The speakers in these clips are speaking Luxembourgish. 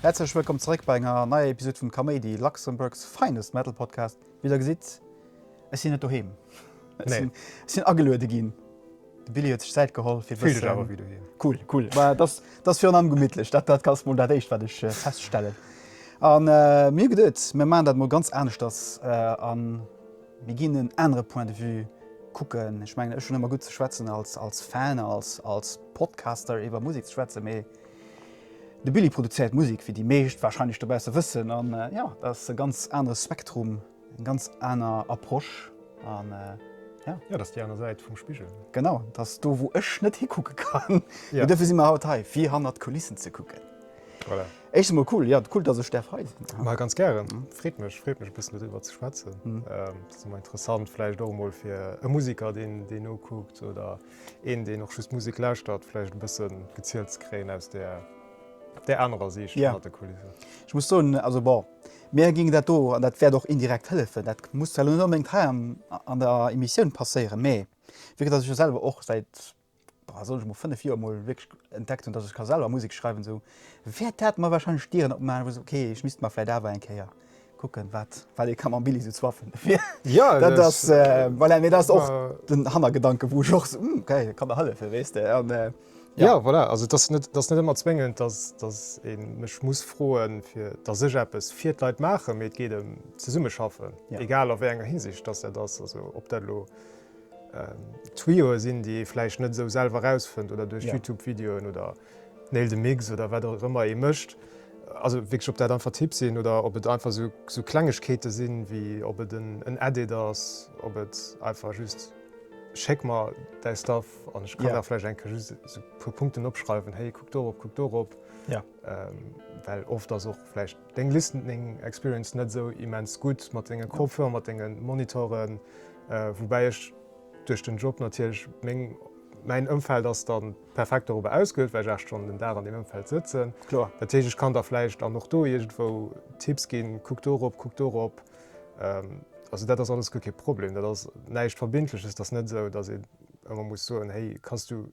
Häerzlech wëllkomm zeréck bei enger neier Episode vum Kaméidi, Luxembourg's finest metal podcast. Wéi der gesitt, ech sinn net doheem, ech sinn ageluede ginn. De Billy huet sech Zäit geholl fir e Fille dech awer bëssen. wéi doheem. Cool, cool. Bah, dass dass virun allem gemittlech. Dat dat ass mol dat éischt wat ech feststellen. An mir hu geduet mir maachen dat mol ganz aneschters an mir ginn en anere Point de vue kucken. Ech mengen ech hunn ëmmer gutt ze schwätzen als als Fan als als Podcaster iwwer Musek ze schwätzen, mee de Billy produzéiert Musek wéi déi meescht wahrscheinlech dobausse wëssen an jo, dat ass e ganz anere Spektrum. Eng ganz aner Approche an ja. Jo, dat ass déi aner Säit vum Spigel. Genau, dat ass do wou ech net hikucke kann. Mee dofir si mer haut hei, fir hannert d'Kulissen ze kucken. Voilà. Éischtens emol cool, jo, cool dass ech däerf hei sinn. Ma ganz gären, freet mech, freet mech e bëssen doriwwer ze schwätzen. Dat ass ëmmer interessant, vläicht och emol fir e Musiker deen deen nokuckt oder een deen och just Musek lauschtert, vläicht e bësse gezielt ze kréien aus där anerer Siicht hannert de Kulissen. Ech muss soen, also bon, Mir ginn dat do, an dat wäert och indirekt hëllefen, dat muss zwar elo net onbedéngt hei an der Emissioun passéieren, mä vu datt ech jo selwer och säit, boah, soll ech mol, fënnef Joer mol wierklech entdeckt hunn, datt ech ka selwer Musek schreiwen, esou wäert dat mer warscheinlech Dieren opmaachen, wou ech soen, okay, ech misst mer vläicht awer eng Kéier kucken, wat wat ee ka mam Billy esou zwaffen. Dat ass, voilà, mä dat ass och den Hannergedanken, wou ech och esou, hm, okay, dat ka mer hëllefen, weess de. Ja. Ja, voilà. Also, et ass net, et ass net ëmmer zwéngend, dass, dass ee mech muss froen, fir dass ech eppes fir d'Leit maachen, mee et geet ëm zesummeschaffen, Ja. egal a wéi enger Hinsicht dass dat ass. Also, ob dat elo ähm, Tuyauxe sinn, déi ee vläicht net esou selwer erausfënnt oder duerch Ja. YouTube-Videoen oder Nail the Mix oder wat och ëmmer ee mécht. Also wierklech, ob dat einfach Tipps sinn oder ob et einfach sou, sou Klengegkeete sinn, wéi ob et en, en Edit ass, ob et einfach just. Schéck mer däi Stuff an ech kann da vläicht eng Kéier just esou e puer Punkten opschreiwen, héi kuck dorop, kuck dorop. Well oft ass och vläicht deng Listening Experience net esou immens gutt mat denge Kopfhörer, mat denge Monitoren. Woubäi ech duerch den Job natierlech meng, mäin Ëmfeld ass da perfekt dorobber ausgeluecht, well ech 8 Stonnen den Dag an deem Ëmfeld sëtzen. Dat heescht, ech kann da vläicht an och do iergendwou Tipps ginn, kuck dorop, kuck dorop. Also dat ass alles guer kee Problem, dat ass näischt Verbindleches. Et ass net esou, datt een ëmmer muss soen, héi kanns du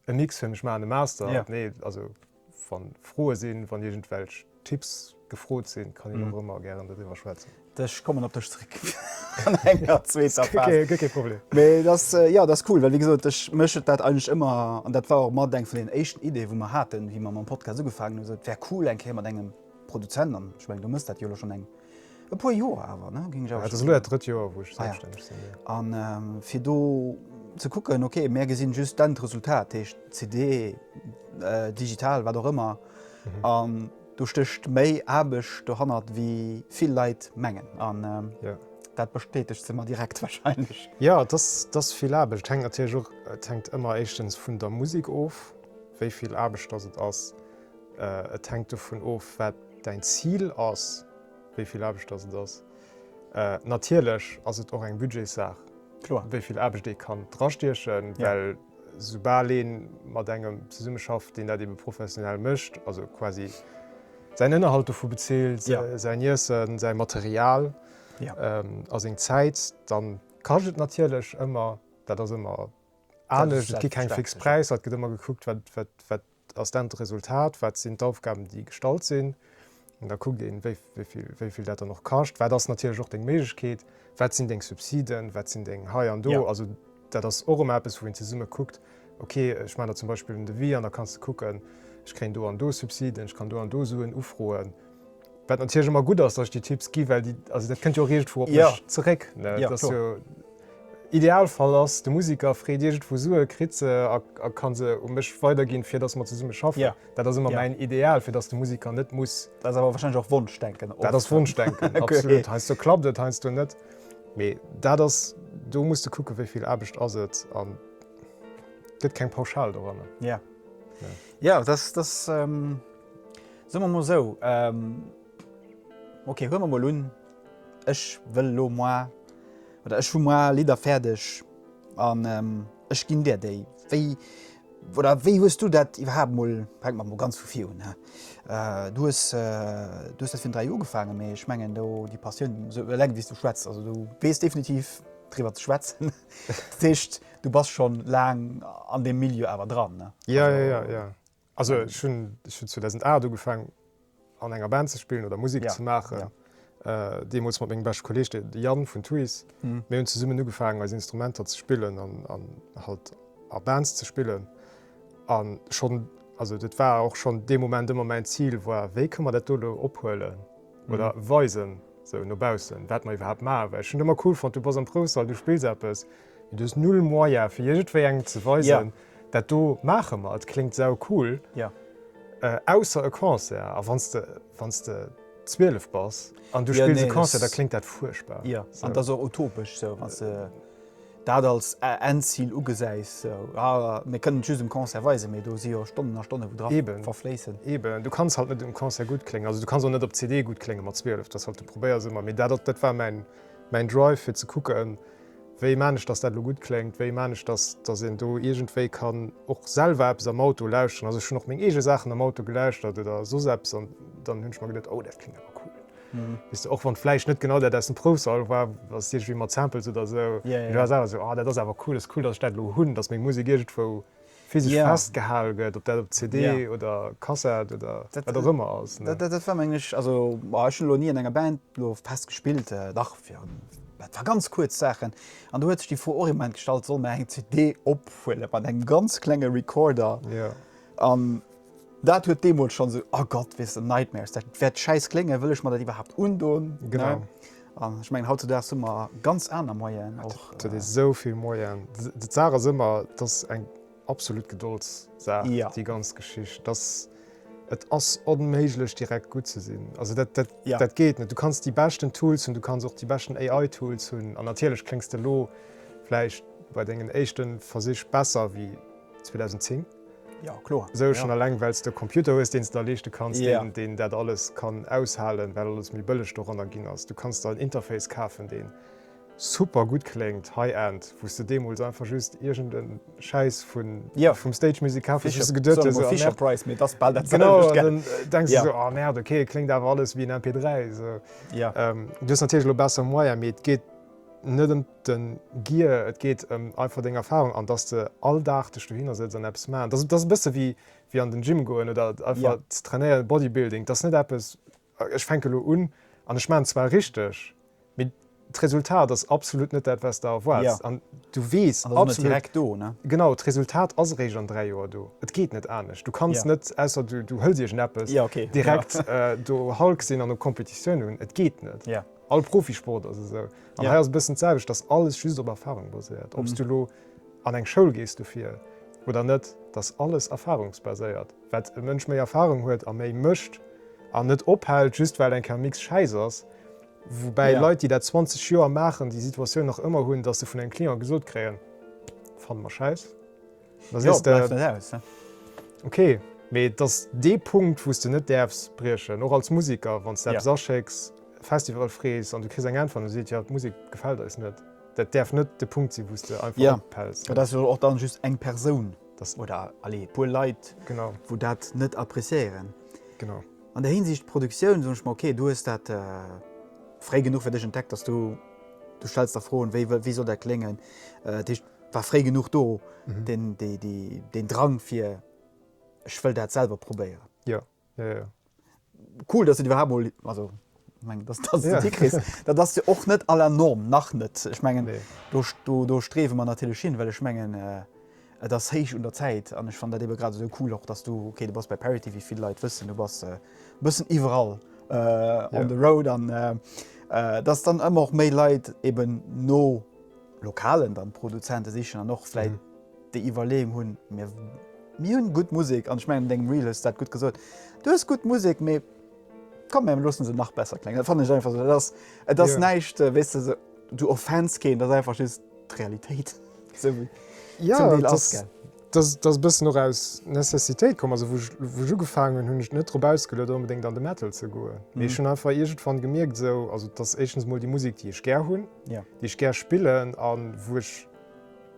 e Mix fir mech maachen, e Master. Jo. Nee, also wa Froe sinn, wann iergendwelch Tipps gefrot sinn, kann een och ëmmer gären doriwwer schwätzen. Ech kommen op dech zeréck an enger zweeter Phas. Guer kee, guer kee Problem. Mee et ass, jo, et ass cool, well wéi gesot, ech, mech huet dat eigentlech ëmmer, an dat war och mat eng vun deenen éischten Ideeë wou mer haten, wéi mer mam Podcast ugefaangen hunn, esou et wär cool eng Kéier mat engem Produzent, an ech mengen du mëss dat jo elo schonn eng E puer Joer awer, ne? Ginn ech awer. Et ass elo dat drëtt Joer, wou ech selbststänneg sinn, jo. A fir do ze kucken, ok, mär gesinn just d'Endresultat, dat heescht CD, digital, wat och ëmmer, an do stécht méi Aarbecht dohannert, wéi vill Leit mengen. An dat bestätegt se mer direkt warscheinlech. Jo, et ass vill Aarbecht. Et hänkt natierlech och, et hänkt ëmmer éischtens vun der Musek of, wéi vill Aarbecht dass et ass. Et hänkt dovun of, wat däin Zil ass, wéi vill Aarbecht dass et ass. Natierlech ass et och eng Budgetssaach, wéi vill Aarbecht ee kann drastiechen, well soubal ee mat engem zesummeschafft, deen dat ebe professionell mécht, also quasi säin Ënnerhalt dovu bezilt, säin Iessen, säi Material a seng Zäit, da kascht et natierlech ëmmer. Dat ass ëmmer anescht, et gi keng fix Präisser, et gëtt ëmmer gekuckt, wat. ass d'Enn d'Resultat, wat sinn d'Aufgaben, déi gestallt sinn. An da kuckt een, wéi vill dat dann och kascht. Wat ass natierlech och deng Méiglechkeet? Wat sinn deng Subsiden? Wat sinn deng hei an do? Also dat ass och ëmmer eppes, wou een zesumme kuckt, ok, ech maachen der zum Beispill en Devis an da kanns de kucken, ech kréien do an do Subsiden, ech kann do an do Suen ufroen. Wat natierlech ëmmer gutt ass, dass ech déi Tipps ginn, well déi, also dat kënnt jo och iergendwou op mech zeréck, ne? Et ass jo, Idealfall ass, de Musiker freet iergendwou Sue, kritt se a ka se u mech weiderginn, fir dass mer zesumme schaffen. Dat ass ëmmer mäin Ideal, fir dass de Musiker net muss. Dat ass awer warscheinlech och Wonschdenken oft. Dat ass Wonschdenken, absolut. Heiansdo klappt et, heiansdo net. Mee dat ass, do muss de kucken, wéi vill Aarbecht ass et a gëtt keng Pauschal doranner. Jo, dat ass. Soe mer mol esou, ok, huele mer mol un, ech wëll elo moi, oder ech hu moi Lidder fäerdeg an ech ginn dir déi. Wéi, oder wéi hues du dat iwwerhaapt mol, fänke mer mol ganz vu vir un, du hues, du hues dat virun dräi Joer ugefaangen, mee ech mengen do déi Passioun, esou eleng wéi s du schwätz, also du weess definitiv driwwer ze schwätzen. Dat heescht, du bass scho laang an deem Milieu awer dran. Jo, jo, jo. Also ech hunn 2008 ugefaangen an enger Band ze spillen oder Musek ze maachen. Deemools mat mengem beschte Kolleeg, de Yann vun Tuys. Mir hunn zesummen ugefaangen eis Instrumenter ze spillen an halt a Bands ze spillen. An schonn, also dat war och schonn dee Moment ëmmer mäin Zil war, wéi kënne mer dat do elo ophuelen oder weisen, sou no baussen, wat mer iwwerhaapt maachen. Well ech hunn et ëmmer cool fonnt, du bass am Proufsall, du spills eppes. Mee du hues null Moyen fir iergendwéi engem ze weisen, dat do maache mer, et kléngt saucool. Jo. Ausser e Concert a wann s de, wann s de 12 bass an du spills e Concert, da kléngt dat fuerchtbar. Jo, an et ass och utopesch esou, wann s de dat als Endzil ugesäis esou, a mir kënnen et just um Concert weisen, mee do si jo Stonnen a Stonnen, wou dra verfléissen. Eben, du kanns halt net um Concert gutt kléngen, also du kanns och net op CD gutt klénge mat 12, dat ass halt, du probéiers ëmmer. Mee dat war mäin Drive fir ze kucken, Wéi maan ech, dass dat elo gutt kléngt? Wéi maan ech, dass, dass een do iergendwéi kann och selwer eppes am Auto lauschteren? Also ech hunn och meng eege Saachen am Auto gelauschtert oder soss eppes an dann hunn ech mer geduet, oh dat kléngt awer cool. Weess de, och wann et vläicht net genau dat aus dem Proufsall war, ass et iergendwéi mat Samples oder esou, mee du has awer esou, oh dat ass awer cool, ass cool, dass ech dat elo hunn, dass meng Musek iergendwou physesch festgehal gëtt, ob dat op CD oder Kassett oder wat och ëmmer ass. Dat war menglech, also ech hunn elo ni an enger Band elo fest gespillt, dach fir war ganz kuerz Saachen an do huet sech déi Fro och im Moment gestallt, soll mer eng CD ophuele mat engem ganz klenge Recorder an Dat huet deemools schonn esou, oh Gott, weess de, Nightmares, dat wäert schäiss kléngen, wëll ech mer dat iwwerhaapt undoen? Genau. An ech mengen, hautzudags hu mer ganz aner Moyen och. Et huet ee sou vill Moyen. D'Saach ass ëmmer, et ass eng absolut Gedoldssaach, déi ganz Geschicht. Et ass, et ass onméiglech direkt gutt ze sinn. Also dat, dat, dat geet net. Du kanns déi beschten Tools hunn, du kanns och déi beschten AI-Tools hunn an natierlech kléngs de elo vläicht bei dengen éischte Versich besser wéi 2010. Jo, kloer. Esou schonn eleng, well s de e Computer hues, deen s de der leeschte kanns, deen dat alles kann aushalen, well alles méi bëlleg doranner ginn ass. Du kanns der en Interface kafen, deen super gutt kléngt, High-End, wou s de deemools einfach just iergende Schäiss vum Stage Music kaf hues, wou s de geduet hues, oh Merde. Genau, an dann denks de sou, oh Merde, ok, et kléngt awer alles wéi en MP3. Du hues natierlech elo besser Moyen, mee et geet net ëm. Den Gier, et geet em einfach deng Erfahrung an dass de all Dag dech dohinner sëtz an eppes maan. Dass dass e bësse wéi wéi an den Gym goen oder einfach ze trainéieren, Bodybuilding, dass net eppes ech fänke lo un an ech maan zwar richteg, mee d'Resultat ass absolut net dat wats de erwaarts an du weess absolut genau d'Resultat ass eréischt an 3 Joer do. Et geet net anescht. Du kanns net, ausser du du hëls iergend eppes, direkt do Hulk sinn an op Competitioun un. Et geet net. All Profisport ass esou. An hei ass e bëssen d'selwecht, dass alles just op Erfarung baséiert. Ob s du elo an eng Schoul gees dofir oder net, et ass alles erfarungsbaséiert. Wat e Mënsch méi Erfarung huet a méi mécht an net ophält, just well eng Kermix schäiss ass, woubäi Leit, déi dat 20 Joer maachen, déi Situatioun nach ëmmer hunn, dass se vun engem Client gesot kréien, Fanne mer schäiss. Jo, bleift net aus, ne? Ok, mee et ass dee Punkt, wou s de net däerfs briechen, och als Museker, wann s de eppes aschécks, Festival frees an du kriss eng Äntwert an et seet, jo, d'Musek gefält eis net. Dat däerf net de Punkt sinn, wou s de einfach ophäls. Jo, dat ass jo och dann just eng Persoun oder, allez, e puer Leit, wou dat net appreciéieren. Genau. An där Hinsicht, Produktioun, soen ech mer, ok, du hues dat fréi genuch fir dech entdeckt, dass du, du stells der Froen, wéi soll dat kléngen? Dat heescht. War fréi genuch do den Drang fir ech wëll dat selwer probéieren? Jo, jo, jo. Cool, dass du iwwerhaapt mol, also ech mengen, dass du dat hikriss. Dat ass jo och net à la norme, nach net. Ech mengen, do streewe mer natierlech hin, well ech mengen, et ass héich un der Zäit. An ech fannen dat ebe grad esou cool och, dass du, okay, du bass bei Parity, wéi vill Leit wëssen, du bass e bëssen iwwerall on the road an dass dann ëmmer och méi Leit eben no. Lokalen dann Produzenten sichen an och vläit déi Iwwerleeung hunn, mir mir hunn gutt Musek an ech mengen an dengem Reel hues du dat gutt gesot, du hues gutt Musek, mee komm mir loossen se nach besser kléngen. Dat fannen ech einfach esou, dat ass et ass näischt weess de esou, du offends keen, dat ass einfach just d'Realitéit esou wéi et zum Deel ass. Dass dass e bëssen och aus Necessitéit komm ass, wou wou ech ugefaangen hunn, hunn ech net drop ausgeluet onbedéngt an de Metal ze goen, mee ech hunn einfach iergendwann gemierkt esou, also dass éischtens mol déi Musek déi ech gär hunn, déi ech gär spillen a wou ech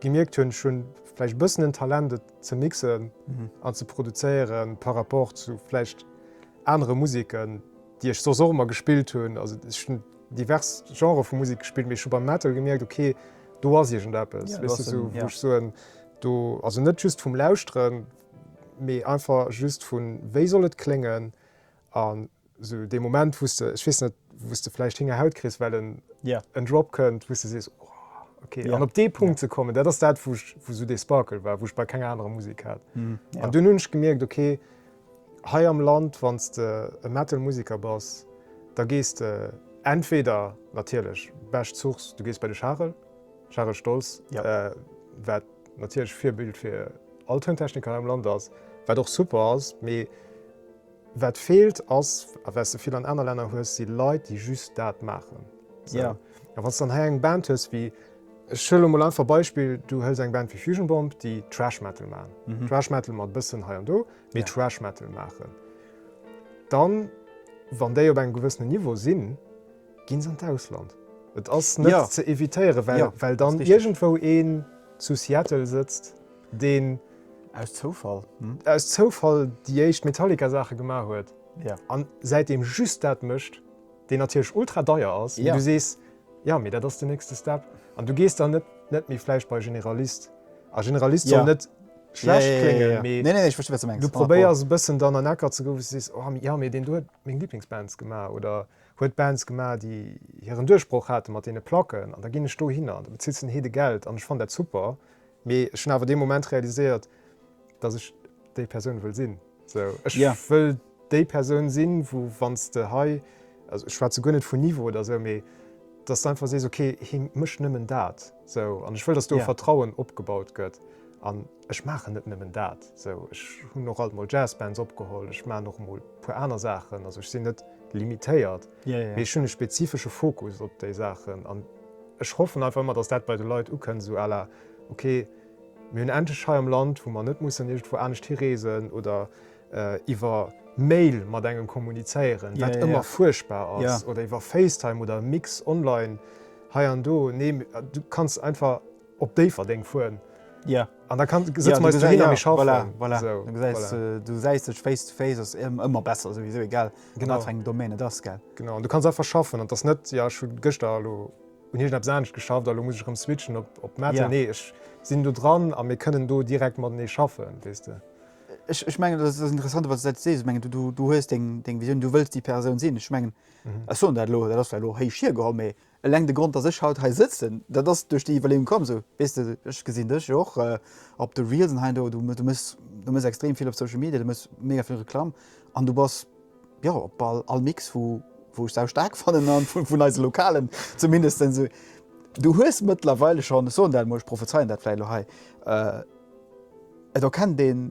gemierkt hunn, ech hunn vläicht e bëssen en Talent et ze mixen an ze produzéiere par rapport zu vläicht anere Museken déi ech soss och ëmmer gespillt hunn, also ech hunn divers Genrë vu Musek gespillt, mee ech hu beim Metal gemierkt, okay do ass iergend eppes, wéisst de, esou wou ech soen, Do, also net just vum Lauschteren, mee einfach just vun, wéi soll et kléngen? An esou dee Moment, wou s de, ech weess net, wou s de vläicht Héngerhaut kriss, well en, en Drop kënnt, wou s de sees, oh, okay. An op dee Punkt ze kommen, dat ass dat, wou ech, wou esou dee Sparkle war, wou ech bei kenger anerer Musek hat. An dunn hunn ech gemierkt, okay, Hei am Land, wann s de e Metal-Museker bass, da gees de entweder natierlech, bescht Source, du gees bei de Charel, Charel Stolz, wat natierlech Virbild fir all Tountechniker hei am Land ass, wat och super ass, mee wat feelt ass, a wat s de vill an aner Länner hues, si Leit, déi just dat maachen. Sou. A wann s dann hei eng Band hues wéi Ech huelen emol einfach Beispill, du hëls eng Band wéi Fusion Bomb, déi Thrash Metal maachen, Thrash Metal mat e bëssen hei an do, mee Thrash Metal maachen. Dann, wann déi op engem gewëssenen Niveau sinn, gi se an d'Ausland. Et ass net ze evitéieren, well, well dann iergendwou een zu Seattle sëtzt, deen. Aus Zoufall. Aus Zoufall déi éischt Metallica-Saache gemaach huet a säitdeem just dat mécht, deen natierlech ultra deier ass, wou du sees, Jo, mee dat ass den nächste Step. An du gees dann net net méi vläicht bei e Generalist. A Generalist soll net schlecht kléngen, mee du probéiers e bëssen dann an Ecker ze goen, wou s du sees, oh jo, mee deen do huet meng Liblingsbands gemaach oder huet Bands gemaach, déi hiren Duerchbroch hate mat deene Placken an da ginn ech dohinner an da bezills den Heedegeld an ech fannen dat super. Mee ech hunn awer dee Moment realiséiert, dass ech déi Persoun wëll sinn. Esou, ech wëll déi Persoun sinn, wou wann s de hei, also ech schwätze guer net vun Niveau oder esou, mee dass s de einfach sees, okay, hie mécht nëmmen dat. Esou, an ech wëll, dass do e Vertrauen opgebaut gëtt. An ech maachen net nëmmen dat. Esou, ech hunn och alt mol Jazzbands opgeholl, ech maachen och emol e puer aner Saachen. Also ech sinn net limitéiert. mee ech hunn e spezifesche Fokus op déi Saachen an ech hoffen einfach ëmmer, datt dat bei de Leit ukënnt, esou à la ok, mir hunn endlech hei am Land, wou mer net mussen iergendwou anescht hireesen oder iwwer Mail mat engem kommunizéieren, wat ëmmer fuerchtbar ass, oder iwwer FaceTime oder e Mix online hei an do. Nee, du kanns einfach. Op Déifferdeng fueren an da sëtze mer eis dohin a mir schaffen. Voilà, du gesäis dech face to face, ass ëmmer besser, souwisou egal a wat fir engem Domaine et ass. Genau, an du kanns einfach schaffen an et ass net, jo ech hu gëschter elo un iergend eppes anescht geschafft a elo muss ech erëm switchen op Metal. Nee, ech sinn do dran a mir kënnen do direkt matenee schaffen, weess de. Ech mengen et ass interessant, wat s de mengen, du hues deng Visioun, du wëlls déi Persoun sinn. Ech mengen, ech soen dat elo, dat ass vläicht elo héich hiergeholl, mee. Eleng de Grond dass ech haut hei sëtzen, dat ass duerch déi Iwwerleeung komm, sou weess de, ech gesinn dech jo och op de Reelsen hei an do, du méchs, du méchs extrem vill op Social Media, du méchs mega vill Reklamm an du bass jo op bal all Mix vu wou ech sau staark fannen a vun eise Lokalen zumindestens. Du hues mëttlerweile schonn, ech soen dat emol, ech prophezeien dat vläicht elo hei, et erkennt een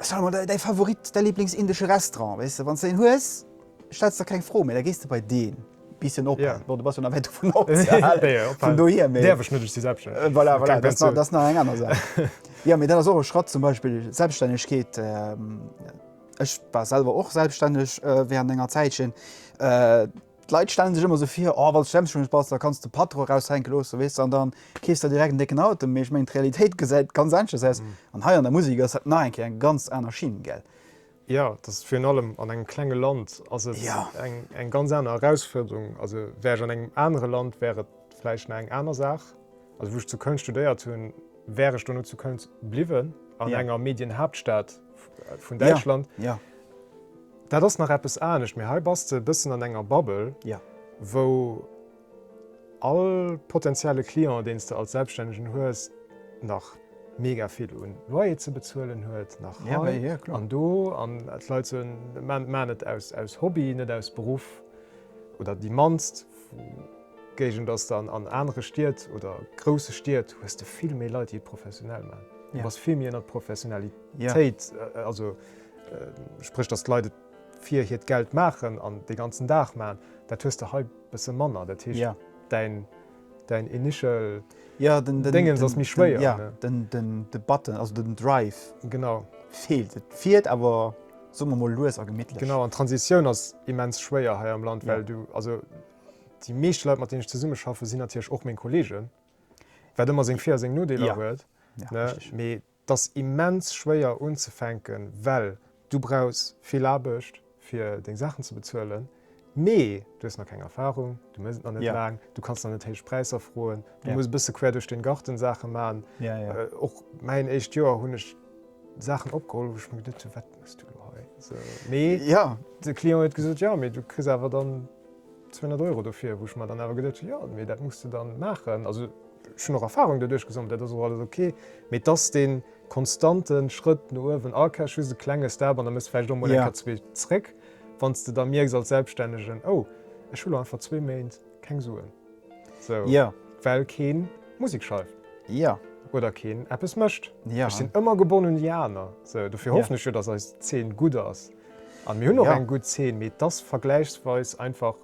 Sag mol, däi Favorit, däi Lieblingsindesche Restaurant, weess de, wann s de een hues, stells de der keng Fro méi, da gees de bei deen. Bisschen op, bon, du bass jo nach wäit dovun ofzehalen, vun dohier, mee. Däerf ech net, ech si selbststänneg. Voilà, voilà, dat ass nach eng aner Saach. Jo, mee dat ass och e Schratt, zum Beispill Selbststännegkeet. Ech war selwer och selbststänneg wärend enger Zäitchen. D'Leit stellen sech ëmmer sou vir, oh wanns de selbstständig bass, da kanns de de Patron eraushänke loosse, weess de, an da keefs der direkt en décken Auto. Mee ech mengen d'Realitéit gesäit ganz aneschters aus, an hei an der Musek ass dat nach eng Kéier eng ganz aner Schinn, gell? Jo, et ass virun allem an engem klenge Land ass et eng ganz aner Erausfuerderung. Also wär ech an engem anere Land, wär et vläicht nach eng aner Saach. Also wou ech zu Köln studéiert hunn, wär ech dono zu Köln bliwwen, an enger Medienhaaptstad vun Däitschland. Dat ass nach eppes anescht, mee hei bass de e bëssen an enger Bubble, wou all potentielle Client, deen s de als Selbststännegen hues, nach mega vill un Loyer ze bezuelen huet, nach hei an do, an d'Leit soen, maachen et aus Hobby, net aus Beruff, oder déi mannst Géigend ass dann. An anere Stied oder grousse Stied hues de vill méi Leit, déi et professionell maachen. Du bass vill méi ënner d'Professionalitéit, also. Spréch datt d'Leit et fir hiert Geld maachen an dee ganzen Dag maachen, dat hues de hei e bësse manner. Dat heescht däin däin initial Déngens ass méi schwéier. Jo, den den de Button, also den Drive. Genau. Feelt. Et fiert awer, soe mer mol, lues a gemittlech. Genau, an d'Transitioun ass immens schwéier hei am Land, well du, also déi meeschte Leit mat deenen ech zesumme schaffen, sinn natierlech och meng Kollegen, wat ëmmer seng Vir a seng Nodeeler huet, ne? Mee 't ass immens schwéier unzefänken, well du brauchs vill Aarbecht fir deng Saachen ze bezuelen, mee du hues nach keng Erfahrung, du méchs et nach net laang, du kanns nach net héich Präisser froen, du muss e bësse quer duerch den Garten Saachen man. Och mäin éischt Joer hunn ech Saachen opgeholl, wou ech mer geduet hunn, wat méchs du elo hei? Mee de Client huet gesot, jo, mee du kriss awer dann. 200 Euro dofir, wou ech mer dann awer geduecht hunn, jo, mee dat muss de dann maachen. Also ech hunn och Erfarung doduerch gesammelt, dat ass och alles ok, mee et ass dee konstante Schrëtt no uewen, ah, okay, ech hu just e klenge Step an da méchs de vläicht och emol eng Kéier zwee zréck, wann s de da mierks als Selbstännegen, oh, ech hu lo einfach zwee Méint keng Suen, sou, well kee Musek schreift oder keen eppes mécht. Ech sinn ëmmer gebonnen un déi aner, sou, dofir hoffen ech jo, datt eis Zeen gutt ass. An mir hun och eng gudd Zeen, mee et ass vergläichsweis einfach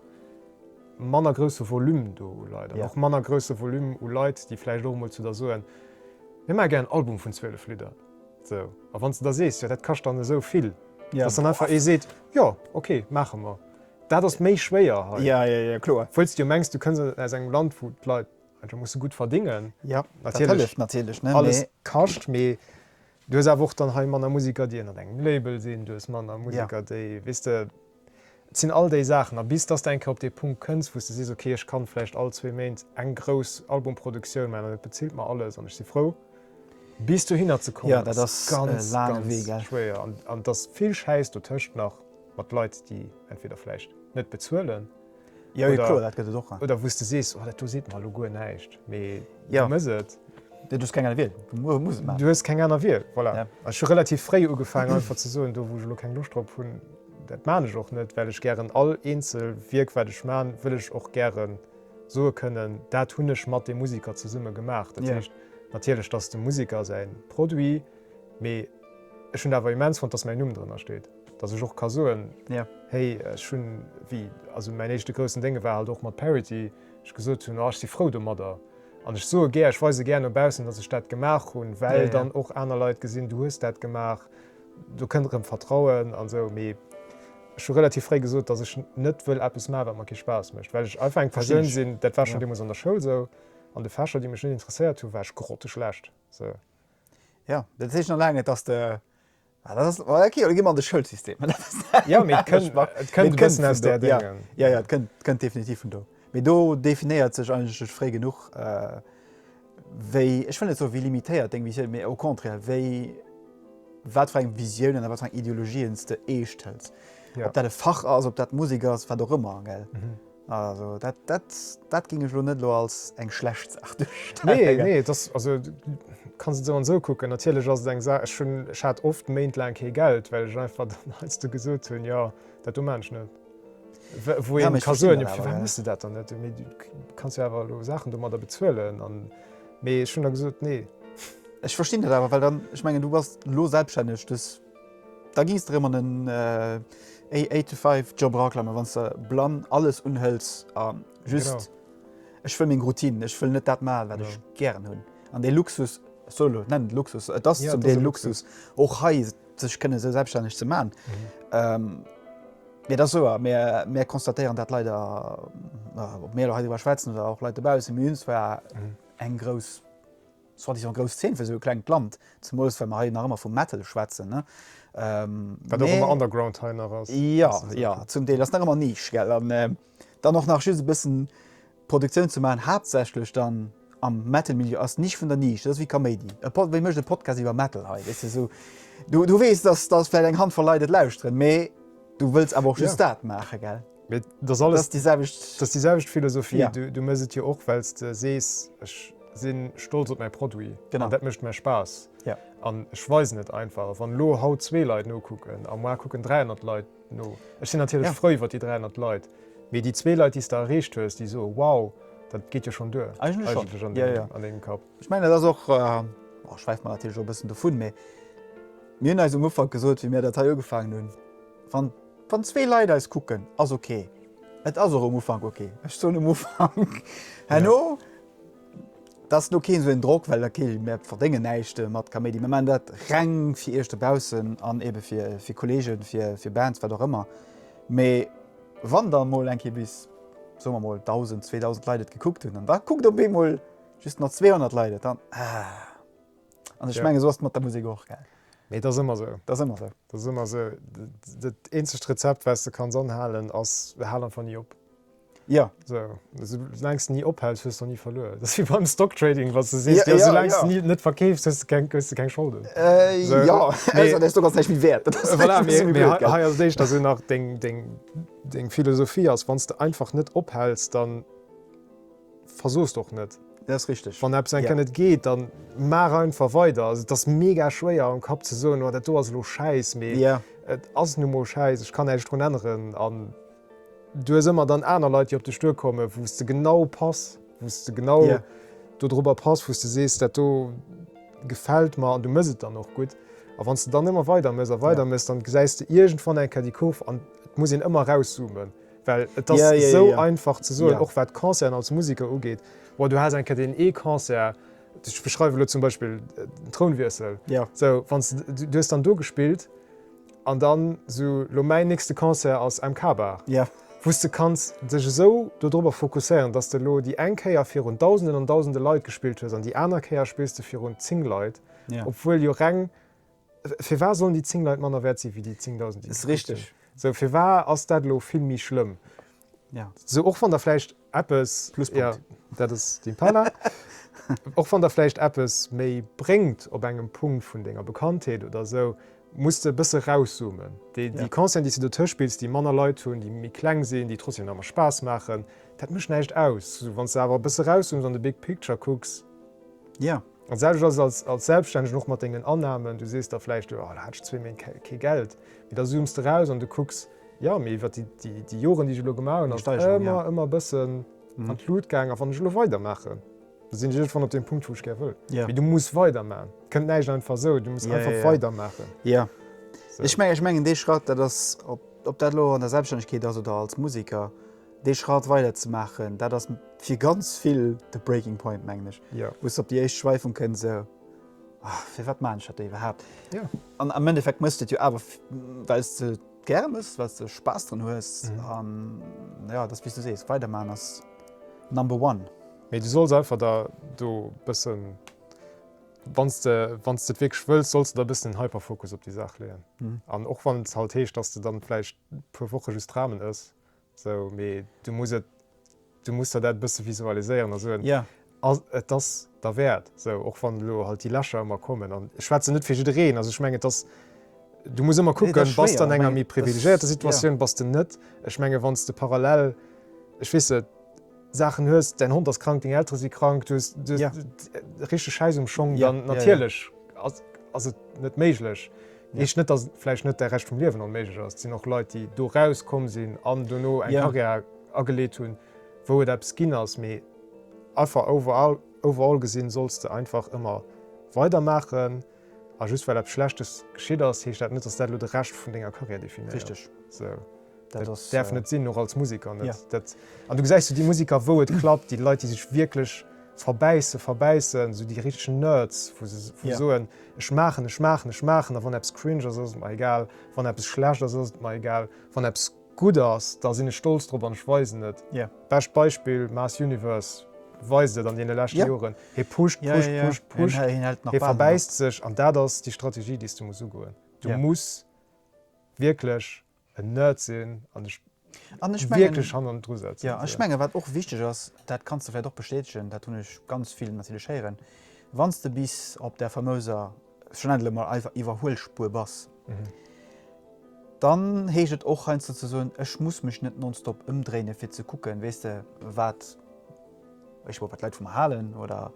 manner grousse Volume do u Leit an och manner grousse Volume u Leit, déi vläicht och emol zu der soen, Mir maache gär en Album vun 12 Lidder. Sou, a wann s de da sees, Jo, dat kascht dann esou vill, dass dann einfach ee seet, Jo, ok, maache mer. Dat ass méi schwéier hei, wëll s de jo mengs, du kënns aus engem Land, wou d'Leit einfach musse gutt verdingen, natierlech alles kascht, mee Du hues awer och dann hei manner Museker, déi ënnert engem Label sinn, du hues manner Museker, déi, weess de, et sinn all déi Saachen. A bis dass de eng Kéier op dee Punkt kënns, wou s de sees, ok, ech kann vläicht all zwee Méint eng grouss Albumproduktioun maachen an et bezilt mer alles an ech si frou, bis dohinner ze kommen, dat ass ganz, ganz schwéier. An et ass vill Schäiss dotëscht nach mat Leit, déi entweder vläicht net bezuelen, oder wou s de sees, dat do seet mer elo guer näischt, mee du muss et. Du hues keng aner Wiel. Du hues keng aner Wiel, voilà. Ech hu relativ fréi ugefaangen einfach ze soen, do wou ech elo keng Loscht drop hunn, dat maan ech och net, well ech gären all eenzel Wierk wat ech man, wëll ech och gäre soe kënnen, dat hunn ech mat deem Musiker zesumme gemaach. Dat heescht natierlech, datt dem Musiker säi Produit, mee ech hunn awer immens front, datt mäin Numm drënner steet. Dass ech och ka soen, hey, ech hunn, wéi also mäin éischte groussen Dénge war halt och mat Parity, ech gesot hunn, oh ech si frou domadder. An ech soe gär, ech weise gär no baussen, dass ech dat gemaach hunn, well dann och aner Leit gesinn, du hues dat gemaach, do kënnt erëm Vertrauen an esou. Mee ech hu relativ fréi gesot, dass ech net wëll eppes maachen, wat mer kee Spaass mécht, well ech einfach eng Persoun sinn, dat war schonn deemools an der Schoul esou, an de Fächer, déi mech net interesséiert hunn, war ech grotteschlecht. Sou. Jo, dat heescht nach laang net, dass de Ah, dat ass, ah, okay, da gi mer an de Schoulsystem. Dat ass Ja, mee et kënnt, Geschmack. et kënnt e bëssen aus vun där do, ja. Déngen. Ja, ja, et kënnt, kënnt definitiv vun do. Mee do definéiert sech eigentlech duerch fréi genuch, äh, wéi, ech wëll net soen, wéi limitéiert deng Visioun, mee au contraire, wéi, wat fir eng Visioun an wat fir eng Ideologien s de eescht hëls. Ja. Ob dat e Fach ass, ob dat Musek ass, wat och ëmmer, gell. Also dat, dat, dat géing ech elo net elo als eng schlecht Saach duerstellen. Nee, nee, et ass, also du kanns et esou an esou kucken. Natierlech ass et eng Saach, ech hunn, ech hat oft Méint laang kee Geld, well ech einfach dann heiansdo gesot hunn, jo, dat do maan ech net. Wou ee ka soen, jo, firwat muss de dat dann net? Mee du kanns jo awer elo Saachen domadder bezuelen an, mee ech hunn da gesot, nee. Ech verstinn dat awer, well dann, ech mengen, du bass elo selbststänneg, dës. Da gings de rem an en eight to five job eraklammen wanns de blann alles unhëls a just ech wëll meng routine, ech wëll net dat man wat ech gären hun an dee luxus solo nennen luxus et ass zum deel luxus och hei sech kënne sou selbststänneg ze man mee da souer mär mär konstatéieren dat leider op mär hei iwwer schwätzen oder och leit dobausse mee hun zwar eng grouss Soi-disant grouss Zeen fir esou e klengt Land, zemools well mer hei nach ëmmer vu Metal schwätzen, ne? Wat och ëmmer Underground hei nach ass. Jo, jo, zum Deel. Ass nach ëmmer Niche, gell? An dann och nach just e bëssen Produktioun ze maachen, haaptsächlech dann am Metal-Milieu, ass Niche vun der Niche. Dat ass wéi Kaméidi. E Pod, wee mécht e Podcast iwwer Metal hei, weess de? Esou, du, du weess, dass, dass vläicht eng Handvoll Leit et lauschteren, mee du wëlls awer och just dat maachen, gell? Mee et ass alles déi selwecht, et ass déi selwecht Philosophie. Ja. Du, du mëss et jo och, well s de sees, ech si stolz op mäi Produit genau. an dat mécht mer Spaass. Ja. An ech weisen et einfach. Wann elo haut zwee Leit nokucken a muar kucken 300 Leit no, ech sinn natierlech ja. frou iwwer déi 300 Leit, mee déi zwee Leit, déi s de erreecht hues, déi soe wow, dat geet jo schon duer eigentlech an deem ja, ja. an deem Kapp. Ech meine dat och äh, oh, schwäift man natierlech och bëssen dovun, mee mir hunn eis um Ufank gesot, wéi mir dat hei ugefaangen hunn, wann Wann zwee Leit eis kucken ass ok. Et ass och um Ufank ok. Ech soen um Ufank. Herno, et ass elo keen esou een Drock, well ok, mär verdéngen näischt mat Kaméidi. Mär maachen dat reng fir iech dobaussen an ebe fir Kollegen, fir Bands, wat och ëmmer. Mee wann dann emol eng Kéier bis, soe mer emol, 1.000, 2.000 Leit et gekuckt hunn an da kuckt op eemol just nach 200 Leit et, dann, ah. An ech menge sou ass et mat der Musek och, gell? Nee, dat ass ëmmer sou. Dat ass ëmmer sou. Dat ass ëmmer sou. Dat eenzegt Rezept, wat s de kanns anhalen, ass, hal einfach ni op. Jo. Sou, sou laang s de ni ophäls, hues de och ni verluer. Dat ass wéi beim Stocktrading, wa s de sees, jo, sou laang s de ni net verkeefs, hues de keng, hues de keng Scholden. Jo, ausser dass du ass näischt méi wäert. Dat ass voilà, mee, mee hei, hei ass et éischter sou nach deng, deng, deng Philosophie ass, wann s de einfach net ophäls, dann. versoos och net. Dat ass richteg. Wann eppes eng Kéier net geet, dann maach einfach weider. Also et ass mega schwéier am Kapp ze soen, oh dat do ass elo schäiss, mee et ass nu mol schäiss, ech kann näischt drun änneren. An du hues ëmmer dann aner Leit, déi op dech duerkomme wou s de genau pass, wou s de genau dodrobber pass, wou s de sees, dat do gefält mer an du mëss et dann och gutt. A wann s de dann ëmmer weider mëss a weider mëss, dann gesäis de iergendwann eng Kéier déi Kurv an et muss een ëmmer erauszoomen. Well et ass esou einfach ze soen, och wat Concerten als Museker ugeet, Bon, du has eng Kéier deen ee Concert, ech beschreiwen elo zum Beispill Trounwiessel, sou, wann s de, du hues dann do gespillt an dann sou, lo mäin nächste Concert ass MK-Bar, wou s de kanns dech esou do drop fokusséieren, datt s de elo déi eng Kéier virun Dausenden an Dausende Leit gespillt hues an déi aner Kéier spills de virun 10 Leit, obwuel jo reng. Firwar sollen déi 10 Leit manner wäert sinn wéi déi 10.000 déi kruten? Sou firwar ass dat elo vill méi schlëmm? Sou och wann der vläicht eppes, jo dat ass den Parla, och wann der vläicht eppes méi bréngt op engem Punkt vun denger Bekanntheet oder sou, muss de e bësse rauszoomen. Déi Concerten déi s de dotëscht spills, déi manner Leit hunn, déi méi kleng sinn, déi trotzdem nach emmer Spaass maachen, dat mécht näischt aus. Wann s de awer e bësse rauszooms an de big picture kucks. Dat selwecht ass et als Selbststännegen och mat dengen Annahmen. Du sees da vläicht, jo, da hat ech zwee Méint kee Geld. Mee da zooms de eraus an du kucks, jo, mee iwwer déi Joren, déi ech elo gemaach hunn, ass et ëmmer, ëmmer e bëssen an d'Lut gaang. A wann ech elo weidermaachen, da sinn ech iergendwann op deem Punkt, wou ech gär wëll. Mee du muss weidermachen. Et kënnt näischt einfach esou. Du muss einfach weidermaachen. Jo. Ech mengen, dee Schratt, dat ass, ob dat elo an der Selbststännegkeet ass oder als Museker, Dee Schratt weider ze maachen, dat ass fir ganz vill de Breaking Point, mengen ech, wou se op déi éischt Schwäifung kënn, esou, Oh, firwat maachen ech dat do iwwerhaapt? An am Endeffekt méchs de et jo awer, well s de et gäre méchs, well s de Spaass dran hues. An jo, et ass, wéi s du sees, weidermaachen ass number one. Mee du solls einfach der do e bësse, wann s de et wierklech wëlls, solls de der e bëssen den Hyperfokus op déi Saach leeën. An och wann et halt heescht, dass de dann vläicht e puer Woche just Ramen ëss, Sou, mee du muss et, du muss der dat e bësse visualiséieren a soen, yeah. ass, et ass derwäert, sou, och wann elo halt déi Lächer ëmmer kommen. An ech schwätzen net fir jiddereen, also ech mengen, et ass, du muss ëmmer kucken, nee, bass de an enger méi privilegiéierter Situatioun, yeah. bass de net. Ech menge wann s de parallel, ech weess net, Saachen hues, däin Hond ass krank, deng Eltere si krank, du hues richteg Schäiss um Schong, dann natierlech ass et net méiglech. Heescht net, datt et vläicht net de Rescht vum Liewen onméiglech ass. Et sinn och Leit, déi do raus komm sinn an dono eng Carrière ageleet hunn, wou et eppes ginn ass. Mee einfach overall gesinn, solls de einfach ëmmer weidermaachen. A just well eppes Schlechtes geschitt ass, heescht dat net, dass dat elo de Rescht vun denger Carrière definéiert. Richteg. Dat däerf net sinn, och als Museker net. Dat, an du gesäis esou déi Museker, wou et klappt, déi Leit, déi sech wierklech verbäissen, verbäissen, esou déi richteg Nerds, wou se soen, Ech maachen, ech maachen, ech maachen, a wann eppes cringe ass, ass et mer egal, wann eppes schlecht ass, ass et mer egal, wann eppes. gudd ass, da sinn ech stolz drop an ech weisen et. Bescht Beispill, Mass Universe weist et an deene leschte Joren, hie pusht, pusht, pusht, pusht, hie verbäisst sech an dat ass déi Strategie déi s de muss ugoen. Du muss wierklech en Nerd sinn an dech wierklech hannendru setzen. Jo, an ech menge wat och wichteg ass, dat kanns de vläit och bestätegen, dat hunn ech ganz vill natierlech héieren, wann s de bis op där famöser. schon endlech mol eiwer Iwwerhuelspuer bass, dann heescht et och heiansdo ze soen, ech muss mech net nonstop ëmdréine fir ze kucken, weess de, wat ech wou wat d'Leit vu mer halen oder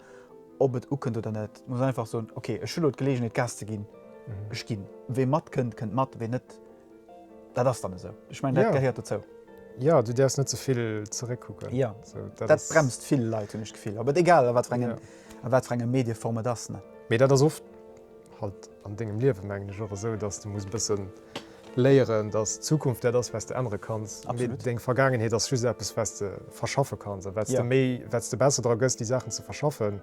ob et ukënnt oder net. Muss einfach soen, okay, ech hu lo d'Geleegenheet Gas ze ginn, ech ginn. Wee matkënnt, kënnt mat, wee net. Dat ass dann esou. Ech mengen, dat gehéiert dozou. Jo, du däerfs net ze vill zeréckkucken. Jo, dat bremst vill Leit, hunn ech d'Gefill. Awer egal, a wat fir engem, a wat fir enger Medieform et ass, ne? Mee dat ass oft halt an dengem Liewen, mengen ech, och esou, datt s de muss e bësse léieren, datt d'Zukunft dat ass, wat s de ännere kanns. Absolutt. Deng Vergaangenheet ass just eppes, wat s de verschaffe kanns. A wat s de méi, wat s de besser dra gëss, déi Saachen ze verschaffen,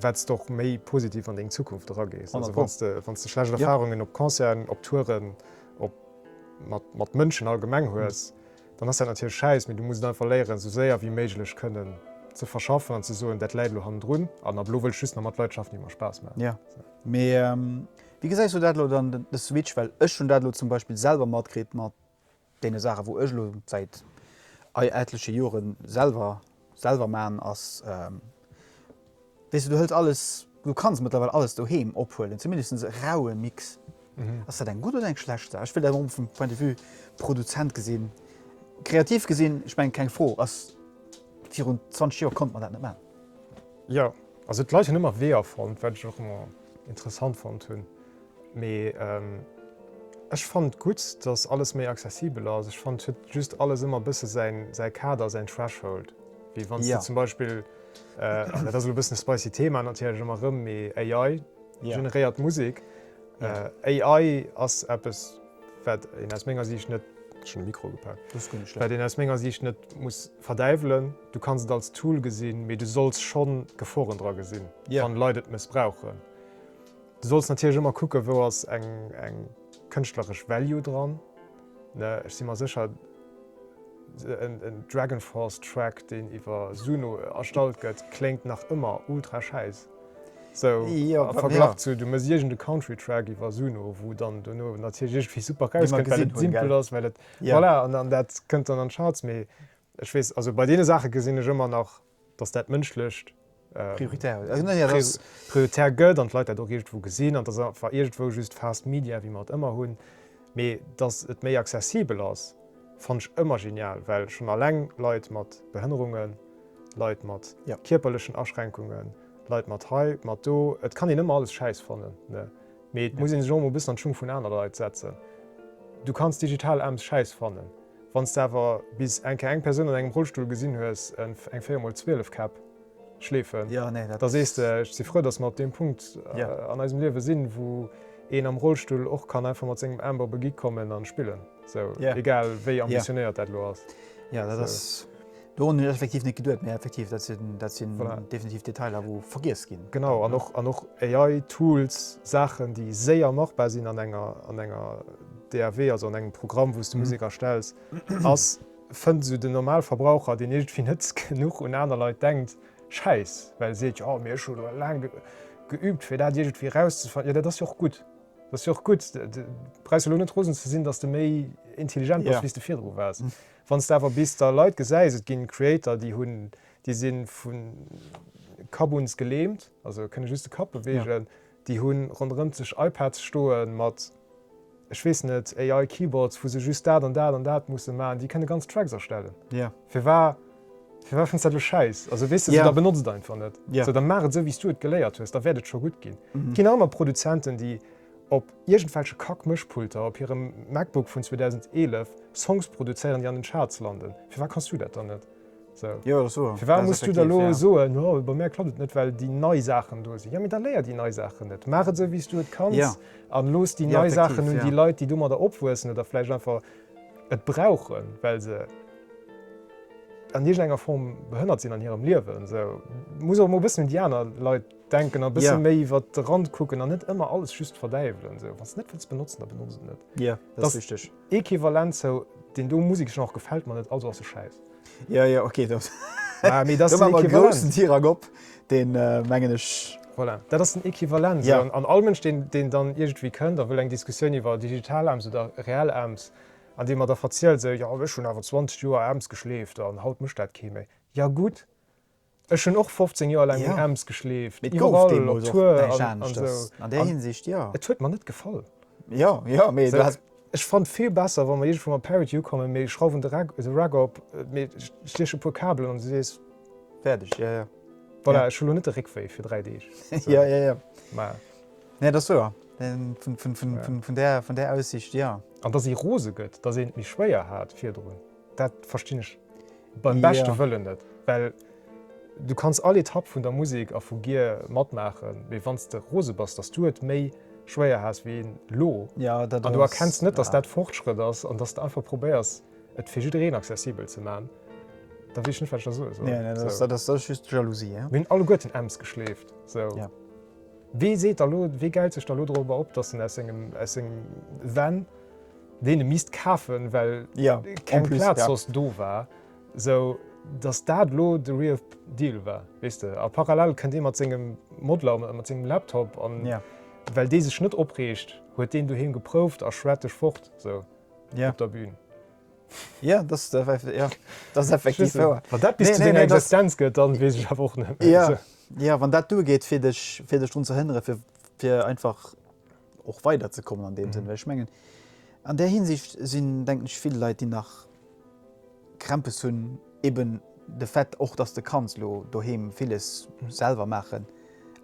wat s de och méi positiv an deng Zukunft eragees. Also wann s de, wann s de schlecht Erfarungen op Concerten, op Touren, op, mat, mat Mënschen allgemeng hues, dann ass dat natierlech schäiss, mee du muss et einfach léieren, esou séier wéi méiglech kënnen ze verschaffen an ze soen, dat läit elo hannendrun an ab elo wëll ech just nach mat Leit schaffen, déi mer Spaass maachen. Jo, mee wéi gesäis du dat elo dann, de Switch? Well ech hunn dat elo zum Beispill selwer matkritt mat deene Saachen, wou ech elo säit etleche Jore selwer selwer maachen, ass, weess du, du hëls alles, du kanns mëttlerweil alles doheem ophuelen, zumindest e raue Mix. Ass dat eng gutt oder eng schlecht Saach? Ech wëll dat erëm vum Point de vue Produzent gesinn. Kreativ gesinn, ech mengen, keng Fro, ass, virun 20 Joer konnte mer dat net maachen. Jo, also d'Leit hunn ëmmer Weeër fonnt, wat ech och ëmmer interessant fonnt hunn. Mee ech fand gudd dass alles méi accessibel ass. Ech fand et huet just alles ëmmer bësse säi Kader, säin Threshold. Wéi wann s du zum Beispill, dat ass elo e bëssen e spicy Thema natierlech ëmmer erëm, mee AI generéiert Musek. AI ass eppes wat een aus menger Siicht net, schon de Mikro ugepaakt, wat een aus menger Siicht net muss verdäiwelen. Du kanns et als Tool gesinn, mee du solls schon d'Geforen dra gesinn, wann Leit et mëssbrauchen. Du solls natierlech ëmmer kucken, wou ass eng kënschtleresch Value dran. Ech si mer sécher, e DragonForce-Track, deen iwwer Suno erstallt gëtt, kléngt nach ëmmer ultra schäiss, sou am Verglach zu, du méchs iergende Country-Track iwwer Suno, wou dann dono natierlech iergendwéi super rauskënnt, well et simpel ass, well et, voilà, an dat kënnt dann an d'Charts. Mee Ech weess, also bei deene Saache gesinn ech ëmmer nach, dass dat Mënschlecht prioritär gëtt an d'Leit dat och iergendwou gesinn. An dass einfach iergendwou just fast media, wéi mer et ëmmer hunn. Mee dass et méi accessibel ass, fannen ech ëmmer genial, well schonn alleng Leit mat Behënnerungen, Leit mat kierperlechen Aschränkungen, Leit mat hei, mat do, et kann een ëmmer alles schäiss fannen, ne? Mee et muss ee sech och emol e bëssen an d'Schung vun aner Leit setzen. Du kanns digital Ems schäiss fannen, Wann s de awer bis enke eng Persoun an engem Rollstull gesinn hues eng 4 mol 12 Käpp schleefen, da sees de, ech si frou, datt mer op deem Punkt an eisem Liewe sinn, wou een am Rollstull och kann einfach mat sengem Aarm op e Gig kommen a spillen, esou egal wéi ambitionéiert dat elo ass. Dorun hunn ech effektiv net geduet, mä effektiv dat sinn, dat sinn definitiv Detailer, wou vergiess ginn. Genau, an och, an och AI-Tools, Saachen, déi séier machbar sinn an enger, an enger DAW, also an engem Programm, wou s de Musek erstells, ass, fënnt esou den Normalverbraucher, deen iergendwéi net genuch un aner Leit denkt, schäiss, well e seet, jo, mee ech hu lo laang geübt, fir dat iergendwéi erauszefannen. Jo, dat ass jo och gutt, dat ass jo och gutt. Du brauchs jo lo net rosen ze sinn, datt s de méi intelligent bass, wéi s de virdru waars. Wanns de awer bis der Leit gesäis, et gin Creator déi hun, déi sin vun Kabuns gelähmt, also kënne just de Kapp bewegen, déi hun ronderëmt sech iPads stoen mat, ech wees net, AI Keyboards wou se just dat an dat an dat mussen maan, déi kënne ganz Tracks erstellen. Firwar, firwar fënns dat lo schäiss? Also wees de sou, da benotz et einfach net, sou da maach et sou wéis du et geléiert hues, da wärt et scho gudd gin. Et gin aner Produzenten déi. Op iergendwelche Kack-Mëschpulter op hirem MacBook vun 2011 Songs produzéieren, déi an den Charts landen. Firwat kanns du dat dann net? Firwat muss du da elo soen, oh, bei mär klappt et net, well déi nei Saachen do sinn? Jo, mee da léier déi nei Saachen net. Maach et esou, wéi s du et kanns a looss déi nei Saachen un déi Leit, déi domadder opwuessen oder vläicht einfach et brauchen, well se an iergendenger Form behënnert sinn an hirem Liewen. Muss och emol e bëssen un déi aner Leit. Denken a bësse méi iwwert de Rand kucken an net ëmmer alles just verdäiwelen. Sou, wann s de net wëlls benotzen, da benotz et net. Jo, dat ass richteg. Equivalent zou deen do Museksgenre gefält mer net, also ass e Schäiss. Jo, jo, ok, do maache mer e groussen Tirang op, deen, mengen ech. Voilà, dat ass den Equivalent. Sou, an all Mënsch, deen dann iergendwéi kënnt a wëll eng Diskussioun iwwer digital Aams oder reell Aams, an dee mer da verzielt, sou, jo, ech hunn awer 20 Joer Aams geschleeft an haut mécht dat kee méi. Jo, gutt! Ech hunn och 15 Joer laang un Ems geschleeft. Mee et gouf deemools och näischt aneschters an där Hinsicht, jo. Et huet mer net gefall. Jo, jo, mee du has. Ech fannt vill besser, wa mer iergendwou mat Parity ukommen, mee schrauwen de Rack op, mee stieche puer Kabelen an du sees. Fäerdeg, jo, jo. Voilà, ech hu lo net de Réckwéi fir dräi Deeg. Jo, jo, jo. Mä. Nee, dat ass wouer. Vun där Aussicht, jo. An datt ee rose gëtt, datt een et méi schwéier hat virdrun. Dat verstinn ech beim beschte Wëllen net, well du kanns all Etapp vun der Musek a vu Gear matmaachen, mee wann s de rose bass, datt s du et méi schwéier has wéi elo an du erkenns net, datt dat Fortschrëtt ass an datt s de einfach probéiers, et fir jiddereen accessibel ze maachen, da weess ech net, wat ech da soe soll. Mir hunn alleguerten Ems geschleeft. Wee seet da lo, wee geilt sech da lo dorobber op, dass en aus sengem, aus sengem Van, deen e misst kafen, well keng Plaz soss do war, sou, dass dat lo de real deal war, weess de? A parallel kënnt dee mat sengem Modeler, mat sengem Laptop, an well dee sech net opreegt, huet deen doheem geprouft a schwäert dech fort, sou op der Bühn. Jo, dat ass effektiv, jo, dat ass effektiv wouer. Wann dat bis zu denger Existenz gëtt, dann weess ech awer och net méi. Jo, jo, wann dat duergeet fir dech, fir dech drun ze hënnere fir, fir einfach och weider ze kommen an deem Sënn. Well ech mengen an där Hinsicht sinn denken ech vill Leit déi nach Krämpes hunn eben de Fait och datt de kanns elo doheem villes selwer maachen,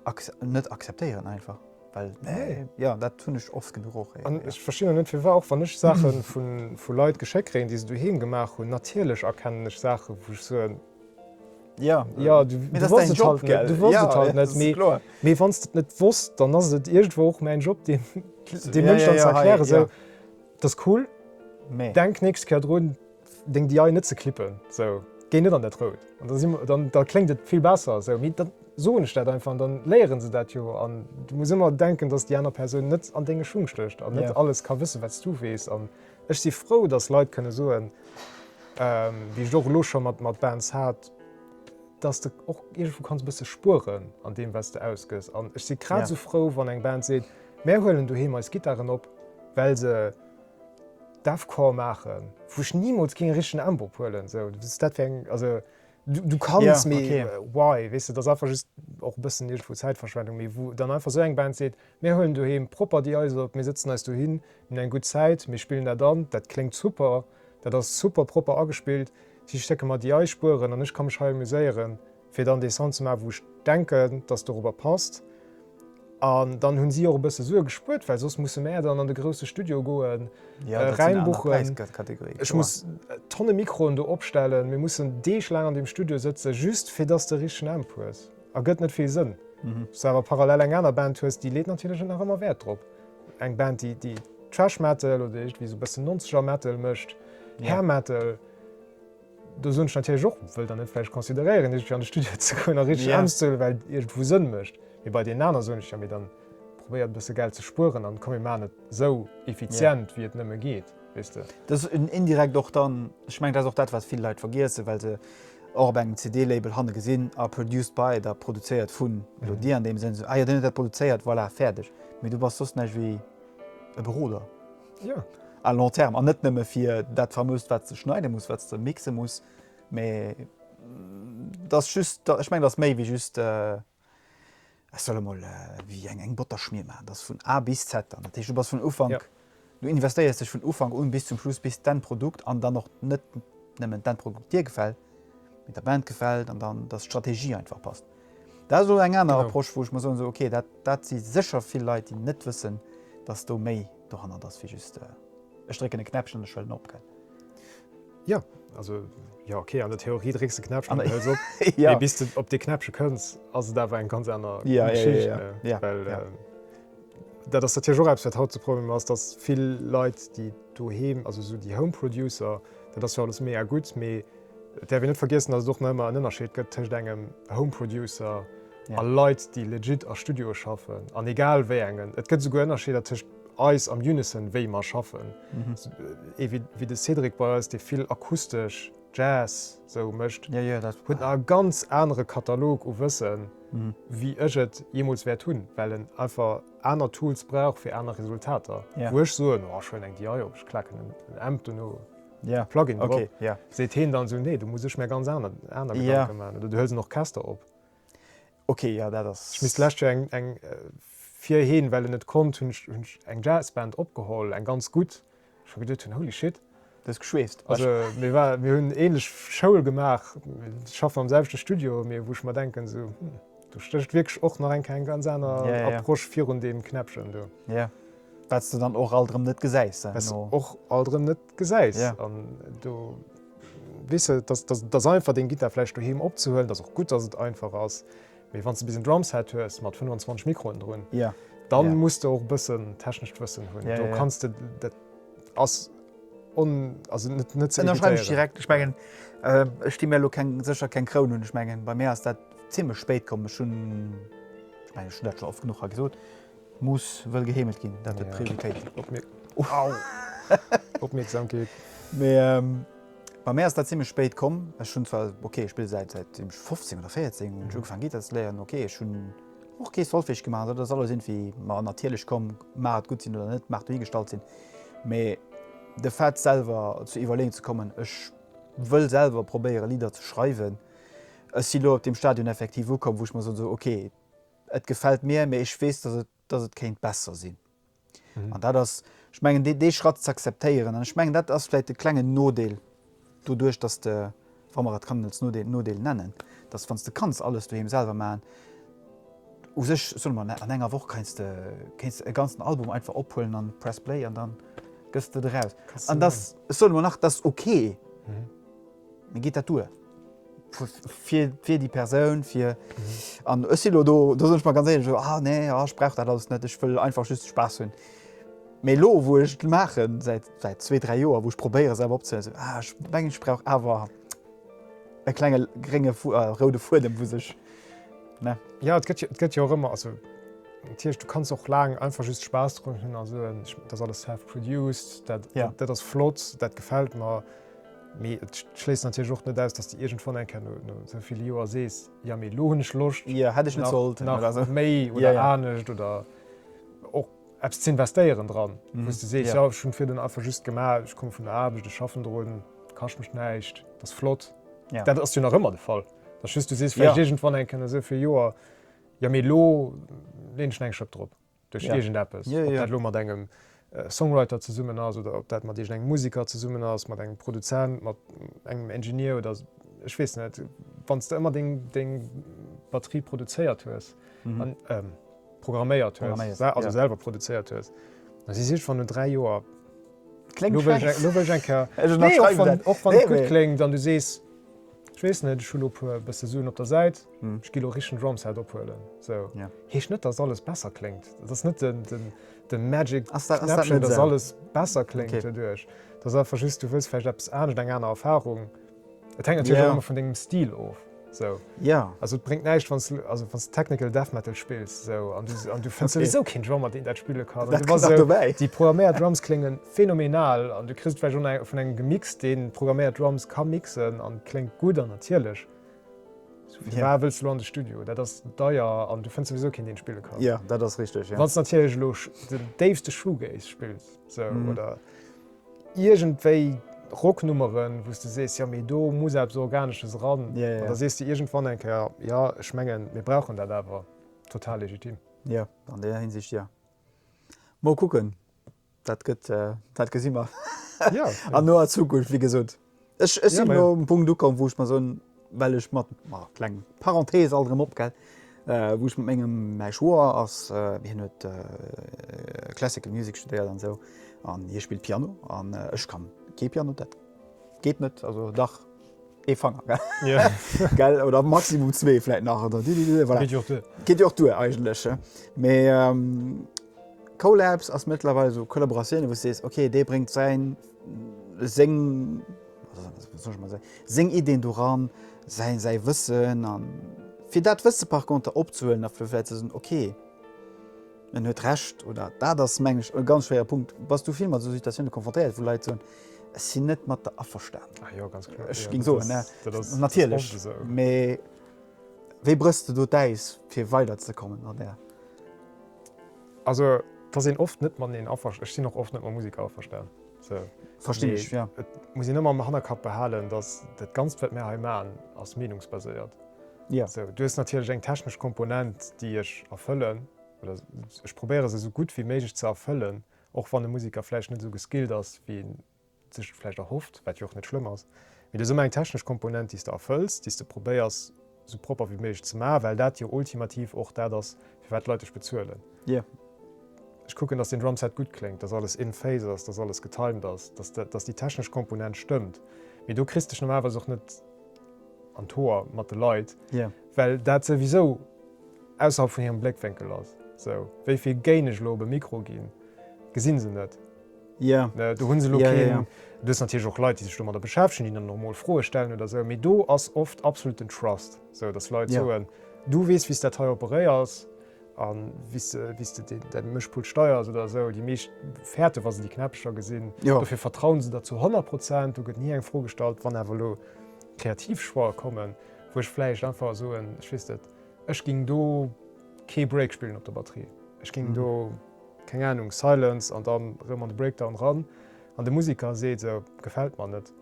acc, net acceptéieren einfach. Well nee. Ja, dat hunn ech oft genuch och. An ech verstinn och net firwar, och wann ech Saache vu Leit geschéckt kréien, déi se doheem gemaach hunn, natierlech erkennen ech Saache wou ech soen, jo, jo, du wosst et halt net, du wosst et halt net, mee kloer, mee wann s de et net wosst, dann ass et iergendwou och mäin Job deem Mënsch dann ze erklären, esou, dat ass cool, mee denk d'nächst Kéier drun, Deng DI net ze klippen, sou, géi net an dat Rout, an da si mer, dann, da kléngt et vill besser sou. Mee dann soen ech dat einfach an dann léieren se dat jo. An du muss ëmmer denken, dass déi aner Persoun net an denge Schung stécht an net alles ka wëssen, wat s du weess. An ech si frou, dass Leit kënne soen, déi ech och elo scho mat mat Bands hat, dass de och iergendwou kanns e bësse spueren an deem, wat s de ausgëss. An ech si grad esou frou, wann eng Band seet, Mär huelen doheem eis Gittaren op, well se, Deathcore maachen, wou ech nimools géing e richtegen Ambroch huelen, esou, wat ass dat fir eng, also du, du kanns, mee why? Yeah, okay. Weess de, et ass einfach just och e bëssen iergendwou Zäitverschwendung, mee wou dann einfach esou eng Band seet, mir huelen doheem propper déi Eis op, mir sëtzen eis dohin, mir hunn eng gutt Zäit, mir spillen dat an, dat kléngt super, dat ass super propper agespillt, si stecke mer déi Eis Spueren an ech ka mech hei amuséieren. fir dann dee Sound ze maachen, wou ech denken, dass et dorobber passt. An dann hunn si och e bësse Sue gespuert, well soss musse mär dann an de grousse Studio goen, Raim buchen, ech muss Tonne Mikroen do opstellen, mir mussen deeglaang an deem Studio sëtzen, just fir dass de richtegen Amp hues. Ergëtt net vill Sënn. Wann s du awer parallel eng aner Band hues, déi leet natierlech och nach ëmmer Wäert drop. Eng Band, déi Thrash Metal oder iergendwéi esou e bësse nonzeger Metal mécht, Hair Metal. Do soen ech natierlech och, wëll der net vläicht consideréieren iergendwéi an de Studio ze goen a richteg Aarbecht ze huelen, well et iergendwou Sënn mécht. Mee bei deenen aner soen ech, jo mee dann probéiert e bësse Geld ze spueren an komm mir maachen et esou effizient wéi et nëmme geet, weess de. Dat ass indirekt och dann, ech mengen dat ass och dat wat vill Leit vergiessen, well se och op engem CD-Label hanne gesinn, ah produced by, da produzéiert vun Elodie an deem Sënn, ah jo deen huet dat produzéiert, voilà fäerdeg. Mee du bass soss näischt wéi e Beroder. Jo. À long terme, an net nëmme fir dat famoust, wat s de schneide muss, wat s de mixe muss, mä dat ass just, ech mengen, dat ass méi wéi just, ech soll emol wéi eng, eng Botterschmier maachen. Dat ass vun A bis Z. An dat heescht, du bass vun Ufank, du investéiers dech vun Ufank un bis zum Schluss, bis d'Enn Produkt an dann och net nëmmen d'Enn Produkt dir gefält, mee der Band gefält an dann, dass d'Strategie einfach passt. Dat ass elo eng aner Approche, wou ech mer soen, esou okay, dat si sécher vill Leit, déi net wëssen, datt do méi dohannert ass wéi just, ech drécken e Knäppchen an ech hëllen op. Jo, also jo, okay, an der Theorie drécks de e Knäppchen an du hëls op, mee bis de op dee Knäppche kënns, ass et awer eng ganz aner Geschicht. Well dat ass natierlech och eppes, wat haut de Problem ass, datt vill Leit, déi doheem, also esou déi Home-Producer, dat ass jo alles méi a gutt, mee, Et däerf een net vergiessen, datt et och nach ëmmer en Ënnerscheed gëtt tëscht engem Home Producer a Leit, déi legit a Studioe schaffen, an egal wéi engen. Et gëtt esouguer Ënnerscheeder tëscht eis am Unison, wéi mer schaffen. Ee wéi de Cédric bei eis, dee vill akustesch, Jazz, sou mécht, huet nach e ganz anere Katalog u Wëssen, wéi ech et jeemools wäert hunn, well en einfach aner Tools brauch fir aner Resultater. Wou ech soen, oh, ech huelen eng DI op, ech klaken en Amp dono Plugin drop, seet heen dann esou, nee, do muss ech mär ganz aner Gedanken man, oder du hëls en Orchester op. Ech misst d'lescht Joer eng, fir heen, well en net konnt, hunn ech eng Jazzband opgeholl, eng ganz gutt, wou ech mer geduet hunn, holy shit. Du hues geschweeft. Also mir hunn déi änlech Schoul gemaach, mir schaffen am selwechte Studio, mee wou ech mer denken, esou, hm, do stécht wierklech och nach eng Kéier eng ganz aner Approche virun deem Knäppchen do. Wat s de dann och alt erëm net gesäis. Wat s och alt erëm net gesäis. An do weess de, dass et ass einfach deng Gittar vläicht doheem opzehuelen. Dat ass och gutt, dass et einfach ass. Mee wann s de bis en Drumset hues mat 25 Mikroen drun, da muss de och e bëssen technescht Wëssen hunn. Do kanns de, dat ass on, also net ze evitéieren. Ënnerschreiwen ech direkt. Ech mengen, ech di mir elo keng, sécher keng Kroun un. Ech mengen, bei mir ass dat zimmlech spéit komm. Ech hunn, ech mengen, ech hunn dat scho oft genuch hei gesot, Muss wëll geheemelt ginn, dat huet Prioritéit. Opmierksamkeet. Mee bei mär ass dat zimmlech spéit komm. Ech hunn zwar, ok, ech spille säit säitdeem ech 15 oder 14 hunn ech ugefaangen Gittar ze léieren. Ok, ech hunn och kee Solfège gemaach, dat ass alles iergendwéi mer natierlech komm, mag et gutt sinn oder net, mag dohigestallt sinn. Mee de Fait selwer zu iwwerleeën ze kommen, ech wëll selwer probéiere Lidder ze schreiwen, ech si lo op deem Stadion effektiv ukomm, wou ech mer soen, esou, ok, et gefält mir, mee ech weess, dass et, dass et kéint besser sinn. An dat ass, ech mengen, dee, dee Schratt ze akzeptéieren. An ech mengen, dat ass vläicht e klengen Nodeel doduerch, dass de, wa mer et kann als Nodeel, Nodeel nennen, dass, wann s de kanns alles doheem selwer maachen, u sech, soe mer, an enger Woch keins de, kéints de e ganzen Album einfach ophuelen an press play an da gëss de et eraus. An dass, ech soe mer nach, dass ok. Mee geet dat duer? Fir, fir déi Persoun, fir, an ech si elo do, do soen ech mer ganz éierlech elo, ah nee, ah ech brauch dat alles net, ech wëll einfach just Spaass hunn. Mee elo, wou ech et maachen, säit, säit zwee, dräi Joer, wou ech probéiere selwer opzeléisen, ah ech mengen ech brauch awer e klenge grénge Fu, a roude Fuedem wou sech, ne. Jo, et gëtt jo, et gëtt jo och ëmmer, also dat heescht, du kanns och laang einfach just Spaass drun hunn a soen, ech, dat ass alles self-produced, dat, dat ass flott, dat gefält mer. Mee et schléisst natierlech och net aus, dass de iergendwann eng Kéier no esou ville Joer sees, Jo, mee elo hunn ech Loscht nach méi oder anescht oder och eppes ze investéieren dran. Wou s de sees, Jo, ech hunn virdrun einfach just gemaach, ech komme vun der Aarbecht, ech schaffen drun, et kascht mech näischt, et ass flott. Dat ass jo nach ëmmer de Fall. Et ass just, du sees vläicht iergendwann eng Kéier no esou ville Joer, Jo, mee elo leen ech eng Schëpp drop. duerch iergend eppes, ob dat elo mat engem Songwriter zesummen ass oder ob dat mat iergend engem Museker zesummen ass, mat engem Produzent, mat engem Engineer oder ech weess net, wann s de ëmmer deng Batterie produzéiert hues, programméiert hues, also selwer produzéiert hues, da si se iergendwann no dräi Joer, kléngt frech, elo wëll ech eng Kéier, nee, och wann et gutt kléngt an du sees. Ech weess net, ech hunn elo e puer bësse Suen op der Säit, ech gi elo e richtegen Drumset ophuelen. Sou, heescht net, datt alles besser kléngt. Et ass net de Magic Knäppchen, datt alles besser kléngt doduerch. Et ass einfach just, du wëlls vläicht eppes anescht, eng aner Erfarung. Et hänkt natierlech och ëmmer vun dengem Stil of. Sou, also et bréngt näischt, wann s du, also wann s de Technical Death Metal spills, sou, an du, an du fënns souwisou keen Drummer, deen dat spille kann, an du bass esou, déi programméiert Drums kléngen. Phenomenal, an du kriss et vläicht och vun engem gemixt, deen d'programméiert Drums ka mixen an kléngt gutt an natierlech. Sou fir war wëlls de lo an de Studio? Dat ass deier an du fënns souwisou keen deen spille kann. Jo, dat ass richteg, jo. Wanns de natierlech elo den déifste Shoegaze spills, sou, oder iergendwéi Rocknummeren, wou s de sees, jo mee do muss eppes Organesches eran, da sees de iergendwann eng Kéier, jo ech mengen mir brauchen dat awer. Total legitim. Jo, an där Hinsicht jo. Mol kucken. Dat gëtt, dat gesi mer an noer Zukunft. Wéi gesot, ech sinn elo um Punkt ukomm, wou ech mer soen, well ech mat, ma kleng Parenthese alt erëm op, gell, wou ech mat mengem, mäi Schwoer ass, hien huet Classical Music studéiert an esou an hie spillt Piano an ech kann kee Piano, dat geet net, also dach ee Fanger, gell, gell, oder maximum zwee vläit nach, oder, voilà, geet jo och duer eigentlech, mee. Collabs ass mëttlerweil esou Kollaboratioune wou s sees ok dee bréngt säin seng wéi soll ech emol soen seng Ideen do ran, säi säi Wëssen a fir dat Wësse par conter opzehuelen a fir vläit ze soen ok en huet Recht oder dat ass meng ech e ganz schwéiere Punkt. Bass du vill mat esou Situatioune konfrontéiert wou Leit soen ech sinn net mat der averstanen? Ech géing soen natierlech mee. Wéi brëchs de do d'Äis fir weider ze kommen an der. Also et ass een oft net mateneen aver, ech sinn och oft net mam Musiker averstan. Verstinn ech jo. Et muss een ëmmer am Hannerkapp behalen, datt dat Ganzt wat mir hei maachen ass meenungsbaséiert. Du hues natierlech eng technesch Komponent déi ech erfëllen oder ech probéiere se esou gutt wéi méiglech ze erfëllen, och wann e Musiker vläicht net esou geskillt ass wéi. sech vläicht erhofft, wat jo och net schlëmm ass, mee et ass ëmmer eng technesch Komponent, déi s de erfëlls, déi s de probéiers esou propper wéi méiglech ze maachen, well dat jo ultimativ och dat ass, firwat d'Leit dech bezuelen. Ech kucken, dass den Drumset gutt kléngt, dass alles in phase ass, dass alles getimed ass, dass déi technesch Komponent stëmmt, mee do kriss s dech normalerweis och net an d'Hoer mat de Leit, well dat souwisou ausserhalb vun hirem Bléckwénkel ass. Esou, wéi vill Gain ech elo op e Mikro ginn, gesi se net. Do hu se elo keen, do si natierlech och Leit, déi sech domadder beschäftegen, déi dann och mol Froe stellen oder esou, mee do ass oft absolut den Trust, esou datt Leit soen, du weess wéi s dat hei operéiers a wéi s de däi Mëschpult steiers oder esou. Déi meescht fäerte wa se déi Knäppecher gesinn, dofir vertraue se der zu 100 Prozent, do gëtt ni eng Fro gestallt. Wann awer elo Kreativchoix kommen, wou ech vläicht einfach soen, ech weess net, ech géing do, Kee Break spillen op der Batterie. Ech ging do, keng Ahnung, Silence an dann rëm an de Breakdown ran an de Musiker seet esou, gefällt mer net.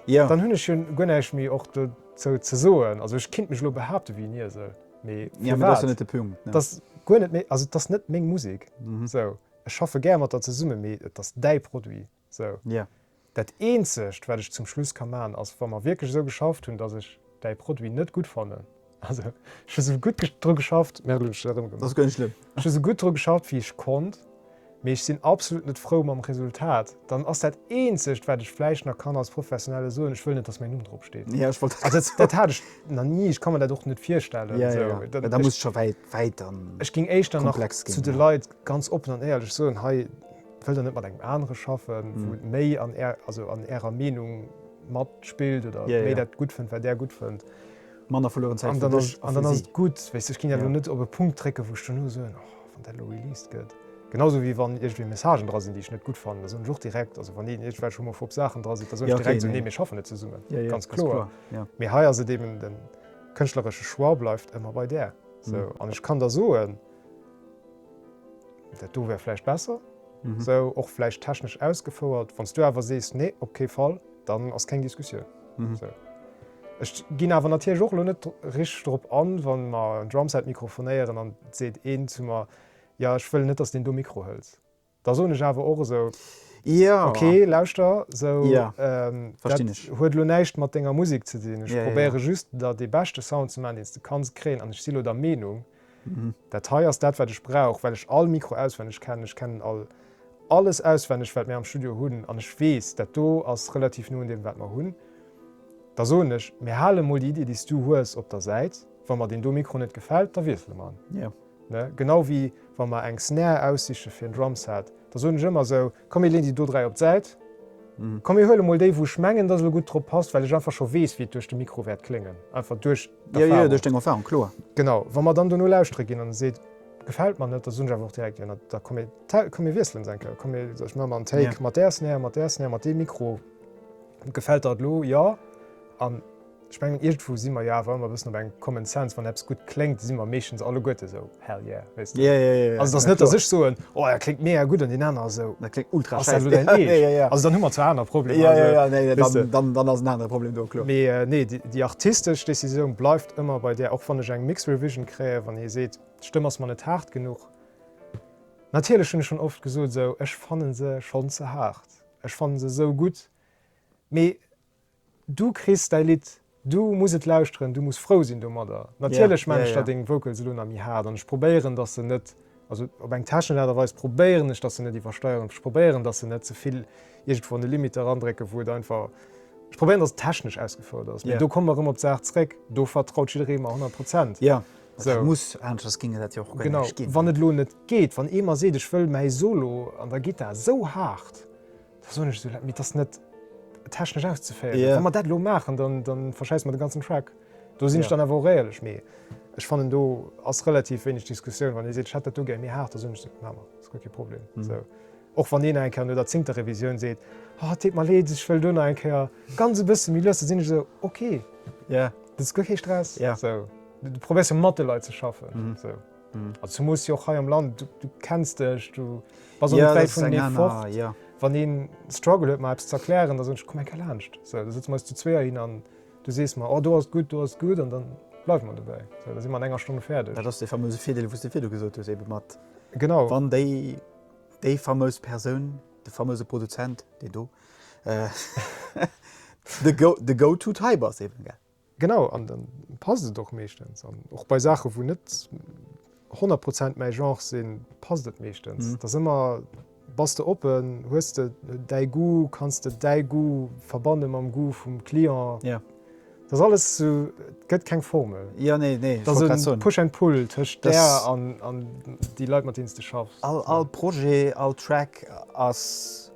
Jo. Dann hunn ech jo guer näischt méi och dozou ze soen. Also ech kinnt mech elo behaapten wéi en Iesel, mee firwat? Jo, mee dat ass jo net de Punkt, ne? Dass guer net méi, also et ass net meng Musik. Sou, ech schaffe gär mat der zesummen, mee et ass däi Produit. Sou. Jo. Dat eenzegt wat ech zum Schluss ka man ass wa mer wierklech esou geschafft hunn dass ech däi Produit net gutt fannen, also ech hu sou gutt dru geschafft, merde hunn ech se erëmgemaach. Ass guer net schlëmm. Ech hu sou gutt dru geschafft wéi ech konnt, mee ech sinn absolut net frou mam Resultat, dann ass dat eenzegt wat ech vläicht nach kann als Professionelle soen, ech wëll net dass mäin Numm drop steet. Jo ech wollt dat grad soen. Also dat hat ech nach ni, ech ka mer dat och net virstellen. Jo jo jo, mä da muss et scho wäit, wäit dann komplex ginn. Ech géing éischter nach zu de Leit ganz oppen an éierlech soen, hei, Wëllt der net mat engem anere schaffen, wou et méi an är, also an ärer Meenung matspillt oder méi dat gutt fënnt, wat där gutt fënnt? Manner verlueren Zäit fir dech a fir si. An dann ass et gutt. Wéisst du, ech ginn ja elo net op e Punkt drécken, wou ech duerno soen, oh, wann dat elo released gëtt. Genau sou wéi wann iergendwéi Messagen dra sinn, déi ech net gutt fannen, da soen ech och direkt, also wann een iergendwelch homophob Saachen dra sinn, da soen ech direkt esou, nee, mir schaffen net zesummen. Ganz kloer. Mee hei ass et eben, de kënschtleresche Choix bleift ëmmer bei där. An ech kann der soen, Dat do wär vläicht besser esou, och vläicht technesch ausgefouert. Wann s du awer sees, nee, op kee Fall, dann ass keng Diskussioun esou. Ech ginn awer natierlech och elo net richteg drop an, wa mer en Drumset mikrofonéieren an et seet een zu mer, jo ech wëll net, dass s deen do Mikro hëls. Da soen ech awer och esou, Ok, lauschter, sou, dat huet elo näischt mat denger Musek ze dinn. Ech probéiere just, der dee beschte Sound ze maachen, deen s de kanns kréien. An ech si elo der Meenung, dat hei ass dat, wat ech brauch, well ech all Mikro auswenneg kennen. Ech kennen all, alles auswenneg, wat mir am Studio hunn. An ech weess, dat do ass relativ no un deem, wat mer hunn. Da soen ech, mir hale mol déi Iddi, déi s du hues, op der Säit. Wa mer deen do Mikro net gefält, da wiessele mer en. Genau wéi wa mer eng Snare aussiche fir en Drumset, da soen ech ëmmer esou, komm mir leeën déi do dräi op d'Säit, komm mir huele mol déi wou ech mengen dass elo gutt drop passt, well ech einfach scho weess wéi et duerch de Mikro wäert kléngen, einfach duerch d'Erfarung. Jo jo, duerch deng Erfarung, kloer. Genau, wa mer dann dono lauschtere ginn an e seet, gefält mer net, da soen ech awer och direkt, jo da komm mir, komm mir wiesselen se eng Kéier, komm ech man emol en Take mat där Snare, mat där Snare, mat deem Mikro, gefält der et elo? Jo. An. Ech mengen iergendwou si mer jo awer ëmmer e bëssen op engem Common Sense, wann eppes gutt kléngt, si mer meeschtens alleguerte sou hell yeah, wéisst de. Yeah, yeah, yeah. Also et ass net, datt ech soen, oh dat kléngt mega gutt an deen aner ass esou, Dat kléngt ultra ass dat lo schäiss. däin Yeah, yeah, Eescht? yeah. Also dann hu mer zwar aner Problemer, Yeah, yeah, yeah, nee, wéisst de. dann, dann ass en anere Problem do, kloer. Mee nee, déi, déi artistesch Decisioun bleift ëmmer bei där, och wann ech eng Mixed Revision kréien, wann ee seet, d'Stëmm ass mer net haart genuch. Natierlech hunn ech schonn oft gesot esou, ech fanne se schonn ze haart, ech fanne se esou gutt, mee Du kriss däi Lidd, du muss et lauschteren, du muss frou sinn domadder. Natierlech maan ech da deng Vocals elo nach méi haart an ech probéieren dass se net, also op eng technesch Aart a Weis probéieren ech dass se net iwwersteieren, ech probéieren dass se net zevill iergendwou an de Limit erandrécken wou et einfach, ech probéieren dass et technesch ausgefouert ass. Mee do komme mer erëm op d'Saach zréck, do vertraut jidderee mer 100 Prozent. Et muss, aneschters géing et dat jo och guer net ginn. Wann et elo net geet, wann ee mer seet ech wëll mäi Solo an der Gittar esou haart, Dat soen ech esou laang, mee et ass net technesch auszeféieren. Yeah. Wa mer dat elo maachen, dann, dann verschäissen mer de ganzen Track. Do sinn ech dann awer och éierlech, mee ech fannen do ass relativ wéineg Diskussioun. Wann ee seet, ech hätt dat do gär méi haart, da soen ech esou, maache mer, ass guer kee Problem. So. Och wann een nach eng Kéier no der zéngter Revisioun seet, oh, et deet mer leed, ech wëll do nach eng Kéier ganz e bësse méi lues, da sinn ech esou, okay, Yeah. dat ass guer kee Stress. Yeah. So. Du probéiers jo mat de Leit ze schaffen. So. Also du muss jo och hei am Land, du kenns dech, du bass och net wäit vun deem fort. Wann ee Struggle huet mer eppes ze erklären, da soen ech komm enker laanscht. Sou, da sëtze mer eis zu zweeër hin an du sees mer, oh do ass et gutt, do ass et gutt an dann bleiwe mer dobäi. Sou, da si mer an enger Stonn fäerdeg. Dat ass dee famöse Virdeel wou s de virdu gesot hues ebe mat, wann déi, déi famös Persoun, de famöse Produzent, dee do de go-to type ass eben, gell. Genau, an dann passt et och meeschtens. An och bei Saachen, wou net 100 Prozent mäi Genre sinn, passt et meeschtens. Et ass ëmmer, bass de oppen, hues de däi Goût, kanns de däi Goût verbanne mam Goût vum Client? Jo. Et ass alles sou, et gëtt keng Formel. Jo, nee, nee, ech wollt grad soen. Et ass e Push and Pull tëscht där an déi Leit, mat deenen s de schaffs. All Projet, all Track ass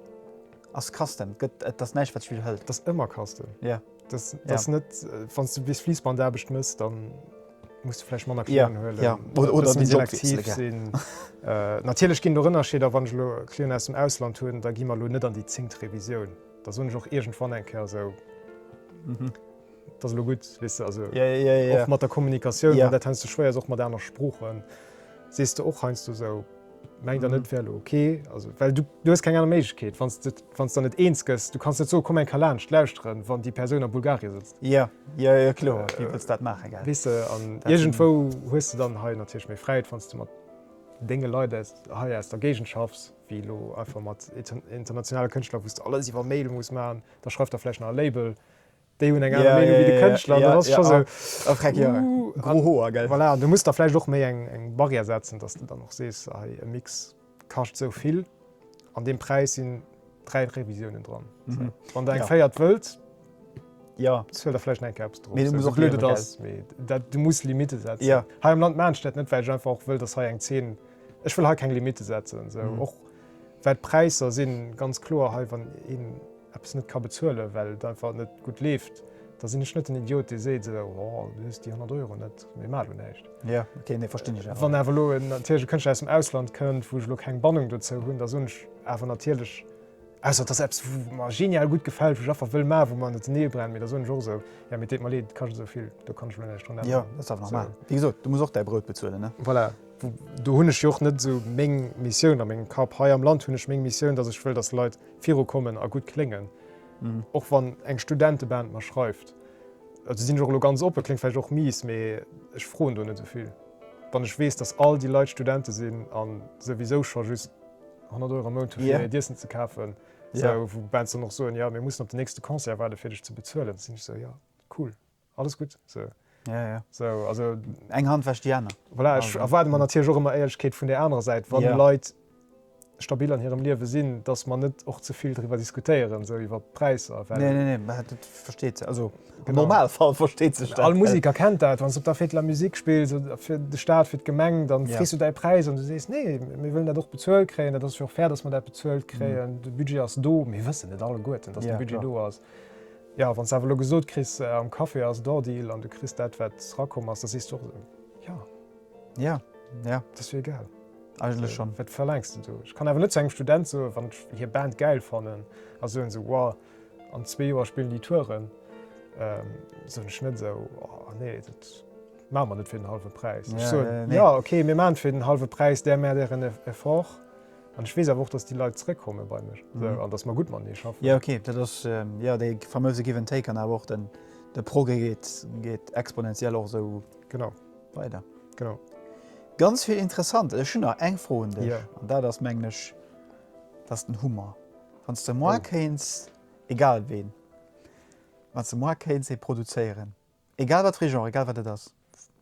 custom. Et ass näischt, wat sech widderhëlt. Et ass ëmmer custom. Jo. Wann du bis Fliessbandaarbecht mëss, da muss du vläicht manner Clienten huelen oder méi selektiv sinn. Natierlech ginn et och Ënnerscheeder. Wann ech elo Clienten aus dem Ausland hunn, da gi mer elo net an déi zéngt Revisioun. Da soen ech och iergendwann eng Kéier esou, Et ass elo gutt. Weess de, also och mat der Kommunikatioun, dat heiansdo schwéier ass, och mat aner Sproochen, sees de och heiansdo esou, Mengt der net et wär elo ok, also well du du hues keng aner Méiglechkeet wann s de wann s der net eens gëss, du kanns net soen, komm eng ka laanscht lauschteren wann déi Persoun a Bulgarien sëtzt. Jo jo jo kloer, wéi wëlls dat maachen gell? Weess de, an iergendwou hues de dann hei natierlech méi Fräiheet wann s de mat denge Leit aus hei aus der Géigend schaffs wéi elo einfach mat internationale Kënschtler wou s de alles iwwer Mail muss maachen, da schreift der vläicht nach e Label, déi hunn eng aner Meenung wéi de Kënschtler an dann ass et scho sou, uh, an voilà, an du muss da vläicht och méi eng Barrière setzen, datt s de dann och sees, hei e Mix kascht esou vill, an deem Präis sinn dräi Revisiounen dran. Wann der eng véiert wëllt, bezuel der vläicht nach eng Kéier eppes drop, esou blöd et ass, mee dat, du muss Limitte setzen. Hei am Land maachen ech dat net, well ech einfach och wëll, datt hei eng Zeen, ech wëll hei keng Limitte setzen, esou och well d'Präisser si ganz kloer hei, wann een, eppes net ka bezuelen, well et einfach net gutt leeft, da sinn ech net den Idiot, dee seet, esou, oh, du hues déi 100 Euro net, mee maach elo näischt. Jo, okay, nee, verstinn ech awer. Wann awer elo natierlech e Kënschtler aus dem Ausland kënnt, wou ech elo keng Bannung dozou hunn, da soen ech awer natierlech, ausser et ass eppes, wat mer genial gutt gefält, wou ech einfach wëll maachen, wou mer matenee brennen, mee da soen ech och esou, jo, mee et deet mer leed, et kascht esou vill, do kann ech elo näischt drun änneren. Jo, dat ass awer normal. Wéi gesot, du muss och däi Brout bezuelen, ne? Voilà, do hunn ech jo och net esou meng Missioun a mengem Kapp. Hei am Land hunn ech meng Missioun, datt ech wëll, datt Leit, viru kommen a gutt kléngen. Och wann eng Studenteband mer schreift, also sinn ech och elo ganz oppen, kléngt vläicht och mies, mee ech froen do net esou vill, wann ech weess, dass all déi Leit Studente sinn a souwisou scho just 100 Euro am Mount hu fir hiert Iessen ze kafen, wou Bands dann och soen, jo, mir mussen op den nächste Concert waarde fir dech ze bezuelen, da sinn ech esou, jo, cool, alles gutt esou. Ja, ja. So, also, Eng Hand wäscht déi aner. Voilà, ech erwaarde mer natierlech och ëmmer Éierlechkeet vun där anerer Säit, wann yeah. Leit stabil an hirem Liewe sinn, dass man net och ze vill driwwer diskutéieren, sou iwwer Präisser. Nee, nee, nee, man hat et versteet ze. Also genau. normal Fall versteet sech. All Musiker äh, kennt dat, wann du op der Fetler Musik spielst oder fir de Staat fir d'Gemeng, dann yeah. du dei Preis an du sees nee, mir wëllen dat doch bezuelt kréien, dat ass jo fair, dass man dat bezuelt kréien. Mm. De Budget ass do, mir wëssen net alle Gueten, dass yeah, de Budget klar. do ass. Jo, wann s de awer elo gesot kriss, am Café ass et hors deal an du kriss dat, wat rakomm ass, da sees du och, Jo. Jo, jo. Et ass jo egal. Eigentlech schonn. Wat verlaangs de do? Ech kann awer net zu engem Student soen, wann ech hir Band gäil fannen a soen esou, Wow, an zwee Joer spillen déi Touren. Soen ech net esou, Oh nee, dat maache mer net fir den hallwe Präis. Ech soen, Jo, okay, mir maachen et fir den hallwe Präis, där Mär där en Effort. An ech weess awer och, dass déi Leit zréckkomme bei mech an dass mer gutt matenee schaffen. Jo, okay, dat ass jo dee famouse Give and take an awer och den, de Progrès geet, geet exponentiell och esou weider. Genau. Ganz vill interessant. Ech hunn nach eng Fro un dech an dat ass, mengen ech, dat ass den Hummer. Wann s de mar kéints, egal ween, wann s de mar kéints ee produzéieren, Egal wat fir ee Genre, egal wat et ass,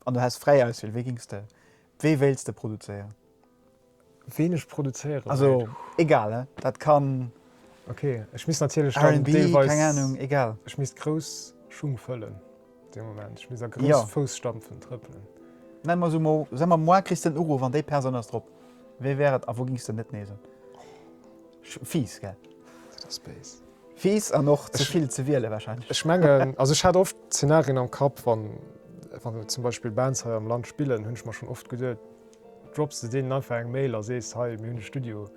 an du häss fräi Auswiel, wéi géings de, wéi wéilts de produzéieren? Ween ech produzéiere wéilt? Also egal, hein, dat kann. Ok, ech misst natierlech dann deelweis. RnB, keng Ahnung, egal. Ech misst grouss Schung fëllen dee Moment, ech misst a grousse Fousstapfen trëppelen. Nenn mer se mol, sa mer, moar kriss de en Uruff an déi Persoun ass drop. Wee wär et a wou géings de net nees un? Fiiss, gell? Dat ass béis. Fies an och ze vill ze wielen wahrscheinlech. Ech mengen, also ech hat oft Szenarien am Kapp, wann wann zum Beispill Bands hei am Land spillen, hunn ech mer schonn oft geduet, drops de deenen einfach eng Mail a sees, hei mir hunn e Studio,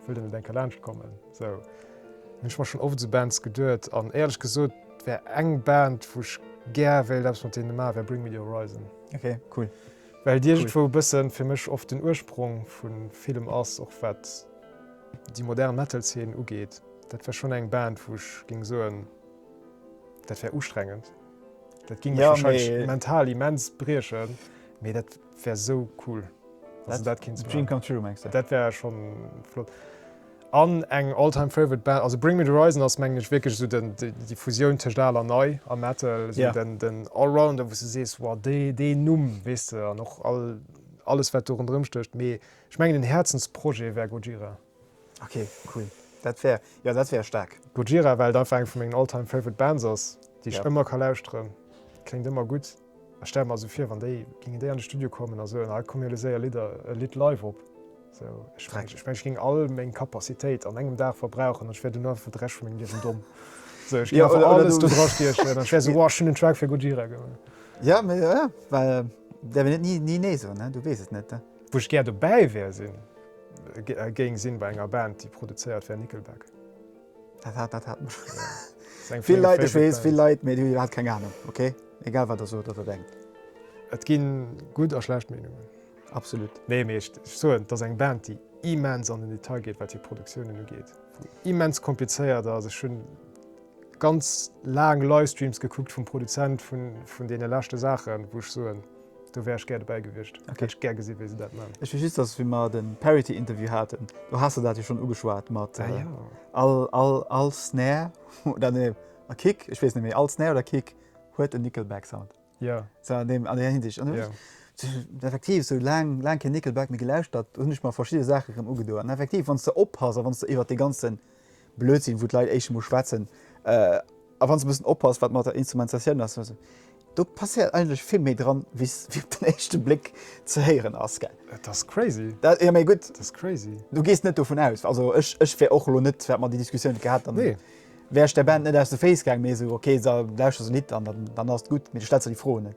wëllt der net eng Kéier laanscht kommen? Esou hunn ech mer schonn oft esou Bands geduet an éierlech gesot wär eng Band wou ech gär wéilt eppes mat deene maachen, wär Bring Me The Horizon. Ok, cool. Well déi iergendwou e bëssen fir mech oft den Ursprong vu villem ass, och wat. déi modern Metal-Zeen ugeet, dat wär schonn eng Band, wou ech géing soen, dat wär ustrengend. Dat géing mech warscheinlech mental immens briechen, mee dat wär esou cool. Also dat kéint ze maachen. Dream come true, mengs de? Dat wär scho flott. An eng all-time favorite Band, also Bring Me The Horizon ass, mengen ech, wierklech esou den, déi Fusioun tëscht al an nei am Metal, esou den, den Allrounder, wou s du sees, wow, dee, deen Numm, weess de, an och all, alles wat do ronderëm stécht. Mee Ech mengen een Häerzensprojet wär Gojira. Ok cool dat wär jo dat wär staark. Gojira well et einfach eng vu mengen all time favorite Bands ass déi ech ëmmer ka lauschteren. Kléngt ëmmer gutt a stelle mer esou vir wann déi gingen déi an de Studio kommen a soen ah komm mir loosse séier Lidder e Lidd live op sou ech mengen ech mengen ech géing all meng Kapazitéit an engem Dag verbrauchen an ech wär duerno einfach fir de Rescht vu mengem Liewen domm sou ech géing einfach alles do dra stiechen an ech wär sou wow ech hunn en Track fir Gojira gemaach. Jo mee jo jo well et däerf een et ni ni nee soen ne du weess et net ne. Wou ech gär dobäi wär sinn, géing sinn bei enger Band déi produzéiert wär, Nickelback. Dat hat, dat hat mech vill Leit, ech weess, vill Leit, mee déi hunn iwwerhaapt keng Anung, ok? Egal wat der sot oder denkt. Et ginn gutt a schlecht Meenungen. Absolut. Nee, mee ech soen, et ass eng Band déi immens an den Detail geet wat hir Produktiounen ugeet, immens komplizéiert ass. Ech hunn ganz laang Livestreams gekuckt vum Produzent vun deene leschte Saachen, wou ech soen, Do wär ech gär dobäi gewiescht. Hätt ech gär gesi wéi se dat man. Ech weess just, datt wéi mer den Parity Interview haten, do has de dat jo schonn ugeschwat mat all all all Snare oder nee a Kick, ech weess net méi, all Snare oder Kick huet en Nickelback Sound. Jo. Sou an deem an där Hinsicht. An ech sech effektiv sou laang laang kee Nickelback méi gelauschtert, hunn ech mer verschidde Saache rëm ugedoen. An effektiv wann s de oppass a wann s de iwwer dee ganzen Blödsinn wou d'Leit éischt emol schwätzen a wann se e bëssen oppassen wat mat der Instrumentatioun ass esou, do passéiert eigentlech vill méi dran wéi wéi op den éischte Bléck ze héieren ass, gell? Et ass crazy. Dat, jo mee gutt, et ass crazy. Du gees net dovun aus, also ech ech wär och elo net, wat mer déi Diskussioun net gehat, dann wär ech der Band net aus de Féiss gaangen, mee esou, ok, lauschter se e Lidd an dann ass et gutt, mee du stells der déi Fro net.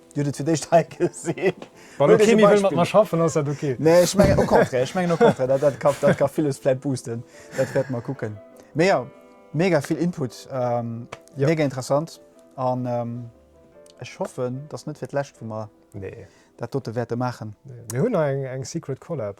Dir hutt et fir d'éischt hei gesinn. Wann do kee méi wëll mat mer schaffen, ass dat ok. Nee, ech mengen au contraire, ech mengen au contraire, dat ka, dat ka villes vläit boosten. Dat wäerte mer kucken. Mee jo, mega vill Input, mega interessant an ech hoffen, datt net fir d'lescht, wou mer dat dote wäerte maachen. Mir hunn nach eng Secret Collab.